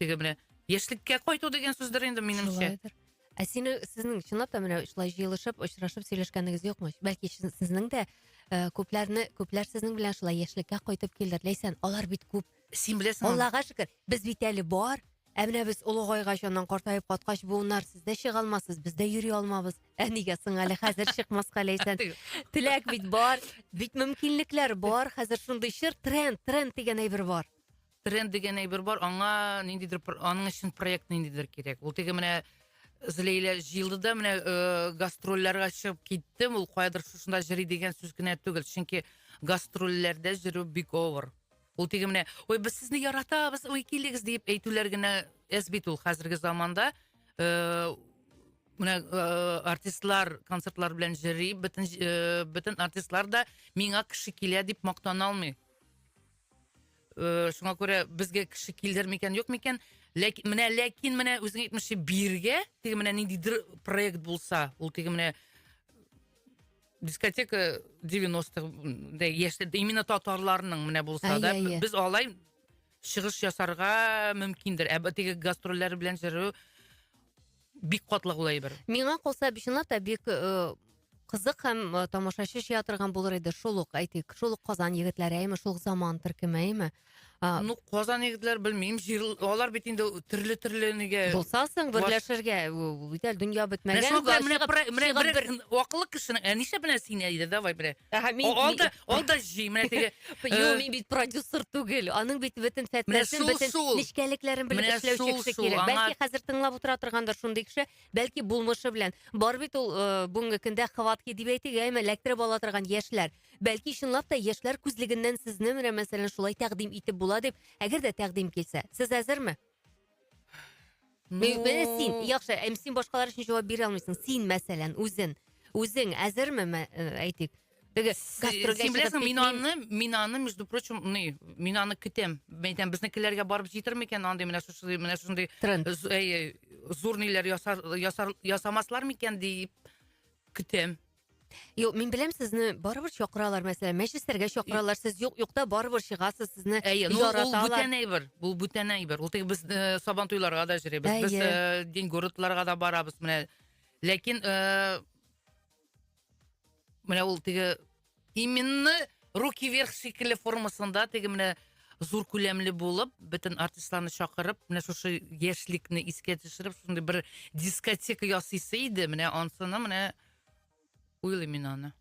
Speaker 2: теге менә яшьлеккә кайту дигән сүздер инде минемчә ә сине сіздің
Speaker 1: чынлап та менә шылай жиылышып очрашып сөйләшкәнегез юкмы бәлки сезнең дә ә, күпләрне күпләр сезнең белән шылай яшьлеккә кайтып килдер ләйсән алар бит күп син беләсең аллага
Speaker 2: шөкер без бит
Speaker 1: әле бар ә менә без олыгайгач аннан картаеп каткач буыннар сез дә чыга алмассыз без дә йөри алмабыз ә нигә соң әле хәзер чыкмаска ләйсән теләк бит бар бит мөмкинлекләр бар хәзер шундый чор тренд тренд дигән әйбер бар тренд дигән
Speaker 2: әйбер бар, аңа ниндидер аның өчен проект ниндидер кирәк. Ул теге менә Злейлә җыелды да менә э, гастрольләргә чыгып китте. Ул каядыр шушында җыри дигән сүз генә түгел. Чөнки гастрольләрдә җөрү бик авыр. Ул теге менә, ой, без сезне яратабыз, ой, килегез дип әйтүләр генә әз бит ул хәзерге заманда. Э, менә э, артистлар концертлар белән җыри, бөтен э, бөтен артистлар да миңа кеше килә дип мактана алмый. Э, шуңа күрә безгә кеше килдер микән, юк микән? Ләкин менә ләкин менә үзең әйтмешчә биргә, теге менә ниндидер проект булса, ул теге менә дискотека 90-х яшьләрдә именно татарларның менә булса да, без алай чыгыш ясарга мөмкиндер. Ә теге гастрольләр белән җыру Бик катлаулы ул әйбер. Миңа калса, чынлап
Speaker 1: та бик э, кызык һәм э, тамашачы шия торган булыр иде. Шул ук әйтик, шул ук Казан егетләре, әйме, шул ук заман төркеме, әйме. А, Ну, Казан
Speaker 2: егетләр белмим, җир алар бит инде төрле төрле нигә. Булса соң берләшергә,
Speaker 1: ул бит әле дөнья бетмәгән. Менә менә менә бер
Speaker 2: акыллы кешенең, ә нишләп менә син әйдә, давай менә. Әһә, мин- Алда Ул да җый, менә теге. Юк, мин бит
Speaker 1: продюсер түгел. Аның бит бөтен фәтләсен, бөтен нечкәлекләрен белеп эшләүче кеше кирәк. Бәлки хәзер тыңлап утыра торгандыр шундый кеше, бәлки булмышы белән. Бар бит ул бүгенге көндә хватки дип әйтик, әмма эләктереп ала торган яшьләр. Бәлки чынлап та яшьләр күзлегеннән сезне менә мәсәлән шулай тәкъдим итеп була дип, әгәр дә тәкъдим килсә, сез әзерме? Менә син, яхшы, әм син башкалар өчен җавап бирә алмыйсың. Син, мәсәлән, үзен, үзең әзерме, э, әйтик, теге гастрольгә
Speaker 2: Син чыгып беләсең, мин пикник- аны, мин аны, между прочим, ный, мин аны көтәм. Мен әйтәм, безнекеләргә барып җитер микән андый менә шушы, менә шундый Тренд. з- әй, зур ниләр ясар, ясар, ясамаслар микән дип көтәм. Юк,
Speaker 1: мин беләм сезне барыбер чакыралар, мәсәлән, мәҗлесләргә чакыралар, сез юк юкта барыбер чыгасыз, сезне Әйе, ну, ул бүтән әйбер,
Speaker 2: ул бүтән әйбер. Ул теге без э, сабан туйларга да җөрибез, без э, дин городларга да барабыз, менә. Ләкин э, менә ул теге именно руки вверх шикелле формасында теге менә зур күләмле булып, бөтен артистларны чакырып, менә шушы яшьлекне искә төшереп, шундый бер дискотека ясыйсы иде, менә ансына менә Уйлыйм мин аны.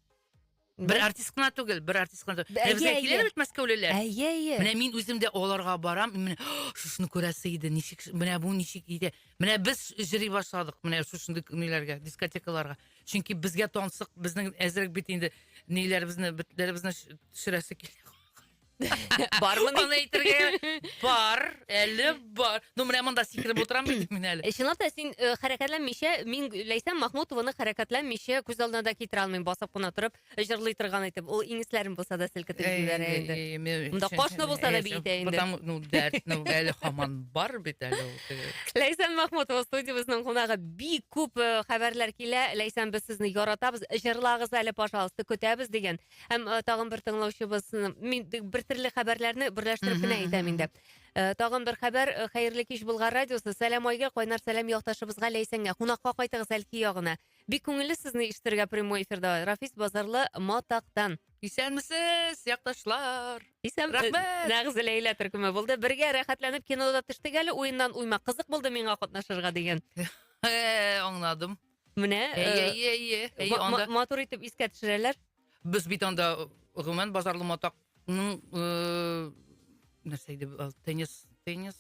Speaker 2: Бер артист кына түгел, бер артист кына түгел. Әйе, Безгә әйе. киләдер бит мәскәүлеләр. Әйе, әйе. Менә мин
Speaker 1: үзем дә
Speaker 2: аларга барам, и менә «О, шушыны күрәсе иде, ничек, ш- менә бу ничек иде. Менә без җыри башладык, менә шушындый ниләргә, дискотекаларга. Чөнки безгә тансык, безнең әзрәк бит инде ниләребезне, бетләребезне ш- төшерәсе килә.
Speaker 1: Бармын аны әйтергә.
Speaker 2: Бар, әле бар. Ну, менә монда сикереп утырам бит мин әле. Э, Чынлап та син э,
Speaker 1: хәрәкәтләнмичә, мин Ләйсән Махмутованы хәрәкәтләнмичә күз алдына да китерә алмыйм, басып кына торып, җырлый торган итеп. Ул иңесләрен булса да селкетеп җибәрә инде. Э, э, мен- Монда кошны булса да Э, биетә инде. Потому, ну, дәрт, ну,
Speaker 2: әле хаман бар бит әле. ул, э. Ләйсән Махмутова
Speaker 1: студиябезнең кунагы бик күп э, хәбәрләр килә. Ләйсән, без сезне яратабыз. Җырлагыз әле, пожалуйста, көтәбез дигән. Һәм э, тагын бер тыңлаучыбыз, м, мин д- бер төрле хәбәрләрне берләштереп Мгм, кенә мгм, әйтәм мгм. инде. Э, Тагын бер хәбәр, э, хәерле кич Болгар радиосы, сәлам Айгә, кайнар сәлам якташыбызга Ләйсәнгә, кунакка кайтыгыз Әлки ягына. Бик күңелле сезне ишетергә прямой эфирда, Рафис Базарлы Матактан. Исәнмесез,
Speaker 2: якташлар! Исән, Рәхмәт!
Speaker 1: э, нәкъ Зәләйлә
Speaker 2: төркеме
Speaker 1: булды. Бергә рәхәтләнеп кинода төштек әле уеннан уйма. Кызык булды миңа катнашырга дигән. Э,
Speaker 2: Аңладым. Менә
Speaker 1: әйе, әйе, әйе, әйе,
Speaker 2: анда матур итеп искә
Speaker 1: төшерәләр. Без бит анда
Speaker 2: гомумән базарлы матакның нәрсә иде теннис, теннис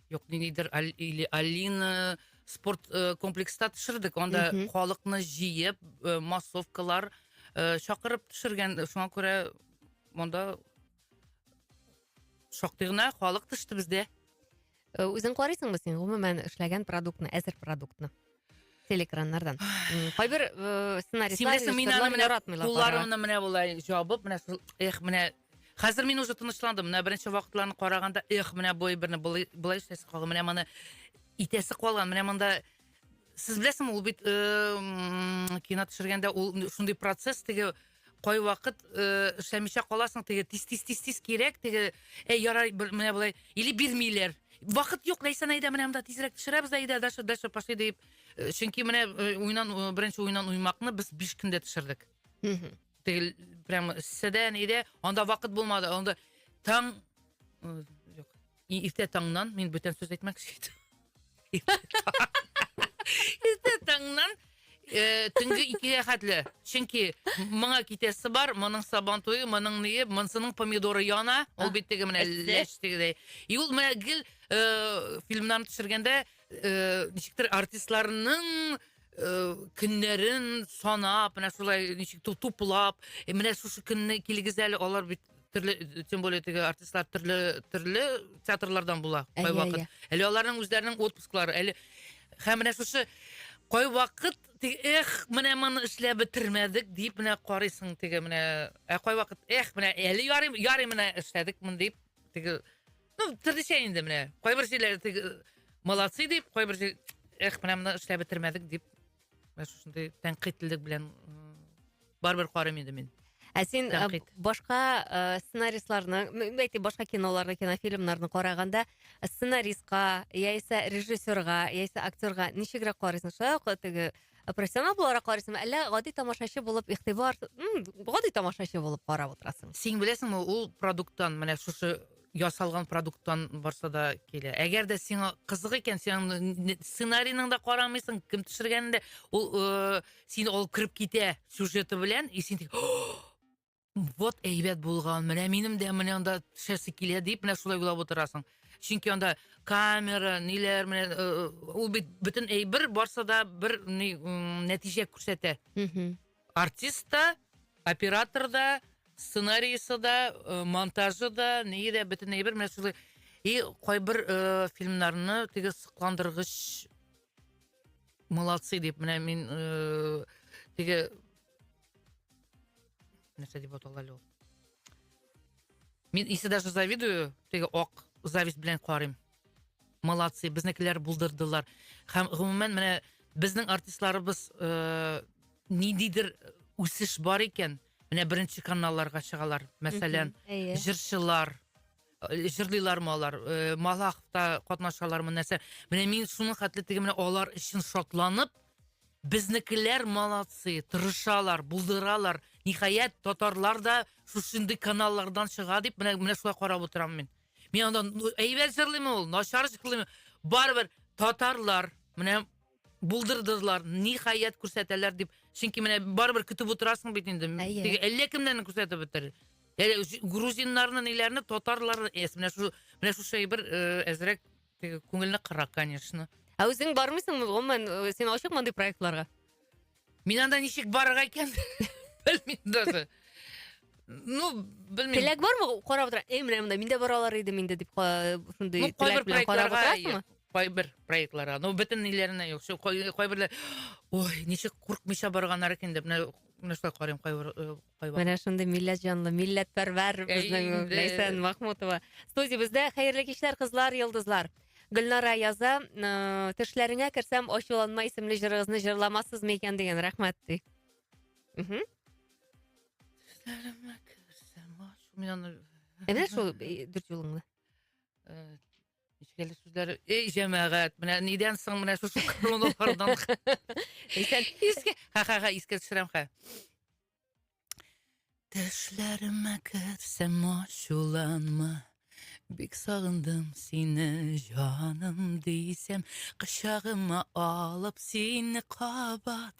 Speaker 2: юк ниндидер или Алина спорт комплекста төшердек. Анда халыкны җыеп, массовкалар чакырып төшергән. Шуңа күрә монда шактый гына халык төште бездә. Э, үзең
Speaker 1: карыйсыңмы син гомумән эшләгән продуктны әзер продуктны телекраннардан кайбер э, сценаристлар мин аны менә кулларымны менә болай
Speaker 2: жабып менә эх менә хәзер мин уже тынычландым менә беренче вакытларны караганда эх менә бой берне болай эшләсе калган менә моны итәсе калган менә монда Сез беләсезме, ул бит э, кино төшергәндә ул шундый процесс теге кай вакыт э, эшләмичә каласың теге тиз тиз тиз тиз кирәк теге әй ярай менә болай или бирмиләр вакыт юк ләйсән әйдә менә монда тизрәк төшерәбез дә әйдә дальше дальше пошли дип э, чөнки менә э, уйнан э, беренче уйнан уймакны без биш көндә төшердек теге прям сседә нидә анда вакыт булмады анда таң И иртә таңнан, мин бүтән сүз әйтмәкче идем. Иртә таңнан э, төнге икегә хәтле. Чөнки моңа китәсе бар, моның сабан туе, моның ние, монсының помидоры яна. Ул бит теге менә Әсте. ләш тегедәй. И ул менә гел э, фильмнарны төшергәндә э, ничектер артистларның э, көннәрен санап, менә шулай ничек ту- туплап, э, менә шушы көнне килегез әле, алар бит төрле тем более теге артистлар төрле төрле театрлардан була кай вакыт әле аларның үзләренең отпусклары әле һәм менә шушы кай вакыт эх менә моны эшләп бетермәдек дип менә карыйсың теге менә ә кай вакыт эх менә әле ярый ярый менә эшләдек моны дип теге ну төрлечә инде менә кайбер җирләре теге молодцы дип кайбер эх менә моны эшләп бетермәдек дип менә шушындай тәнкыйтьлелек белән барыбер карыйм инде мин ә син
Speaker 1: башка ә, сценаристларны әйтик башка киноларны кинофильмнарны караганда сценаристка яисә режиссерга яисә актерга ничегрәк карыйсың шулай ук теге профессионал буларак карыйсыңмы әллә гади тамашачы булып игътибар гади тамашачы булып карап утырасың син беләсеңме ул
Speaker 2: продукттан менә шушы ясалган продукттан барса да килә. Әгәр дә сиңа кызык икән, син сценарийның да карамыйсың, кем төшергәнен дә, ул э, син алып кереп китә сюжеты белән, и син вот әйбәт булган, менә минем дә менә анда төшәсе килә дип, менә шулай уйлап утырасың. Чөнки анда камера, ниләр, менә э, э, ул бит бөтен әйбер барса да бер нәтиҗә күрсәтә. Артист та, оператор да, сценариисы да, монтажы да, ние дә, бөтен әйбер менә шулай. И кайбер фильмнарны теге сокландыргыч молодцы дип менә мин теге нәрсә дип атала әле ул мин исе даже завидую теге ак зависть белән карыйм Молодцы, безнекеләр булдырдылар. Һәм гомумән менә безнең артистларыбыз э, ниндидер үсеш бар икән. Менә беренче каналларга чыгалар. Мәсәлән, Әйе. җырчылар э, җырлыйлармы алар, э, Малаховта катнашалармы нәрсә. Менә мин шуның хәтле теге менә алар өчен шатланып, безнекеләр молодцы, тырышалар, булдыралар. Ниһаять, татарлар да шушындый каналлардан чыга дип, менә менә шулай карап утырам мин. Мин анда әйбәт җырлыймы ул, начар җырлыймы? Барыбер татарлар менә булдырдылар, ниһаять күрсәтәләр дип. Чөнки менә барыбер көтеп утырасың бит инде. Теге әллә кемнәрне күрсәтеп бетерер. Әле грузиннарны, ниләрне, татарларны, эс, менә шу менә шу шәй бер әзрәк теге күңелне кыра, конечно. Ә үзең бармыйсыңмы,
Speaker 1: гомумән, син ачыкмы андый проектларга? Мин
Speaker 2: анда ничек барырга икән? Белмим даже. Ну, белмим. Теләк бармы? Карап
Speaker 1: утыра. Эй, менә монда мин дә бара алар идем инде дип шундый ну, теләк белән карап утырасыңмы? кайбер проектларга
Speaker 2: ну бөтенләренә юк шул кайберләр ой ничек куркмыйча барганнар икән дип менә нәрсә карыйм кайбер Менә шундый
Speaker 1: милләт җанлы, милләтпәрвәр безнең Ләйсән Махмутова. Студиябездә хәерле кичләр, кызлар, йолдызлар. Гөлнара яза, э, төшләреңә керсәм, ачуланма исемле җырыгызны җырламассызмы икән дигән, рәхмәт ди. Мгм. Төшләремә
Speaker 2: керсәм, ачу- Мин аны Әнә шул э,
Speaker 1: дүрт юлыңны. э, Нечкәле
Speaker 2: сүзләр. Эй, җәмәгать, менә нидән соң менә шушы кылынулардан.
Speaker 1: Исән. Искә, ха-ха-ха,
Speaker 2: искә төшерәм ха. Төшләремә керсәм ачуланма. Бик сагындым сине, җаным дисәм, кочагыма алып сине кабат.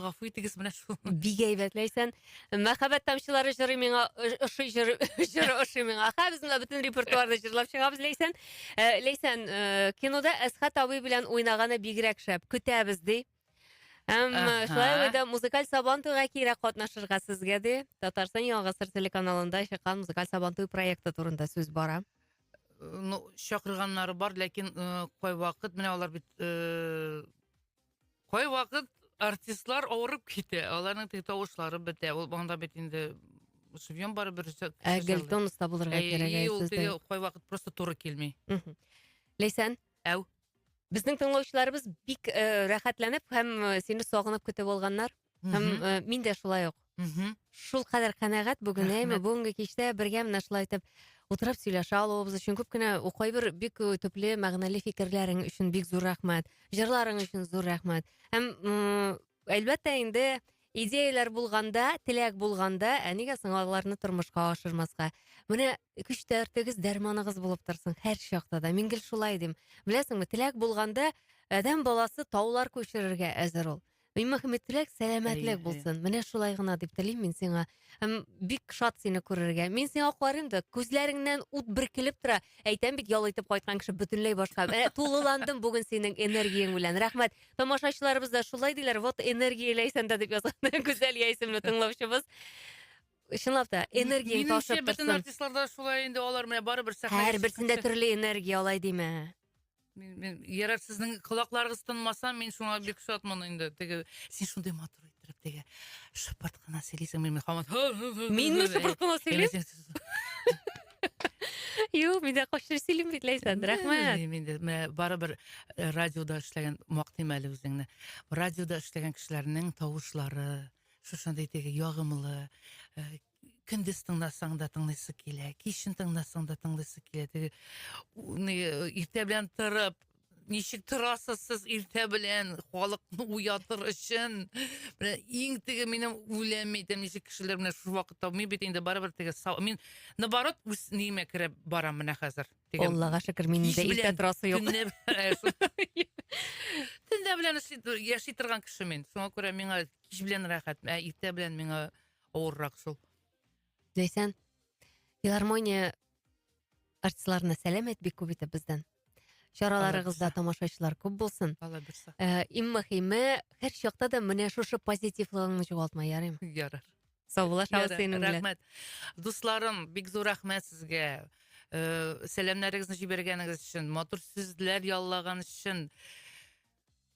Speaker 1: гафу итегез менә
Speaker 2: шул бик әйбәт ләйсән
Speaker 1: мәхәббәт тамчылары җыры миңа ошый җыры җыры ошый миңа ха без монда бөтен репертуарны җырлап чыгабыз ләйсән э, ләйсән э, кинода әсхат абый белән уйнаганы бигрәк шәп көтәбез ди Әм шулай ук да музыкаль сабан туйга кире катнашырга сезгә ди. Татарстан Яңа Гасыр телеканалында чыккан музыкаль сабан туй проекты турында сүз бара. Ну,
Speaker 2: чакырганнары бар, ләкин э, кайвакыт менә алар бит э, Кайвакыт артистлар авырып китә, аларның теге тавышлары бетә. Ул монда бит инде шубьем бар бер рецепт. Ә Гелтон оста
Speaker 1: булырга кирәк әй сездә. Ул кайвакыт
Speaker 2: просто туры килми. Ләйсән?
Speaker 1: Әү.
Speaker 2: Безнең
Speaker 1: тыңлаучыларыбыз бик э, рәхәтләнеп һәм э, сине сагынып көтеп алганнар. Һәм э, мин дә шулай ук. Шул кадәр канәгать бүген, әйме, бүгенге кичтә бергә менә шулай итеп утырып сөйләшә алуыбыз өчен күп кенә кайбер бик э, төпле мәгънәле фикерләрең өчен бик зур рәхмәт. Җырларың өчен зур рәхмәт. Һәм әлбәттә инде идеяләр булганда, теләк булганда, ә нигә соң аларны тормышка ашырмаска? Менә көч тәртегез, дәрманыгыз булып торсын һәр чакта да. Мин гел шулай дим. Беләсеңме, теләк булганда, адәм баласы таулар күчерергә әзер ул. И мөхәммәтлек, сәламәтлек булсын. Менә шулай гына дип телим мин сиңа. Һәм бик шат сине күрергә. Мин сиңа карыйм да, күзләреңнән ут биркелеп тора. Әйтәм бит, ял итеп кайткан кеше бөтенләй башка. Менә тулыландым бүген синең энергияң белән. Рәхмәт. Тамашачыларыбыз да шулай диләр. Вот энергия ләйсәндә дип язган. Гүзәл Яисемле тыңлаучыбыз. Чынлап та, энергияң ташып торсын. Бөтен артистларда
Speaker 2: шулай
Speaker 1: инде
Speaker 2: алар менә барыбер сәхнәгә. Һәрберсендә төрле
Speaker 1: энергия алай димә. Мин, мин
Speaker 2: ярар сезнең колакларыгыз тынмаса, мин шуңа бик шатмын инде. Теге син шундый матур иттереп теге шыпырт кына сөйлисең, мин хаман. Минме шыпырт
Speaker 1: кына сөйлисең? Юк, мин дә кошчы сөйлим бит Ләйсән, рәхмәт. Мин дә барыбер
Speaker 2: э, радиода эшләгән мактыйм әле үзеңне. Радиода эшләгән кешеләрнең тавышлары, шушындый теге ягымлы, э, көндез тыңласаң да тыңлыйсы килә, кичен тыңласаң да тыңлыйсы килә. Теге иртә белән торып, ничек торасыз сез иртә белән халыкны уятыр өчен? Менә иң теге минем үләм әйтәм, ничек кешеләр менә шушы вакытта мин бит инде барыбер теге мин наоборот үз ниемә керә барам менә хәзер. Аллага шөкер, мин
Speaker 1: инде иртә торасы юк.
Speaker 2: Төнлә белән яши торган кеше мин. Шуңа күрә миңа кич белән рәхәт, ә иртә белән миңа авыррак шул. Ләйсән,
Speaker 1: филармония артистларына сәләм әйт бик күп итеп бездән. Чараларыгызда тамашачылар күп булсын. Алла бирса. Э,
Speaker 2: иң мөхиме,
Speaker 1: һәр чакта да менә шушы позитивлыгыңны югалтма, ярыйм. Ярар. Сау
Speaker 2: була, шау
Speaker 1: синең белән.
Speaker 2: Рәхмәт.
Speaker 1: Дусларым,
Speaker 2: бик зур рәхмәт
Speaker 1: сезгә. Э,
Speaker 2: сәламнәрегезне җибәргәнегез өчен, матур сүзләр яллаган өчен.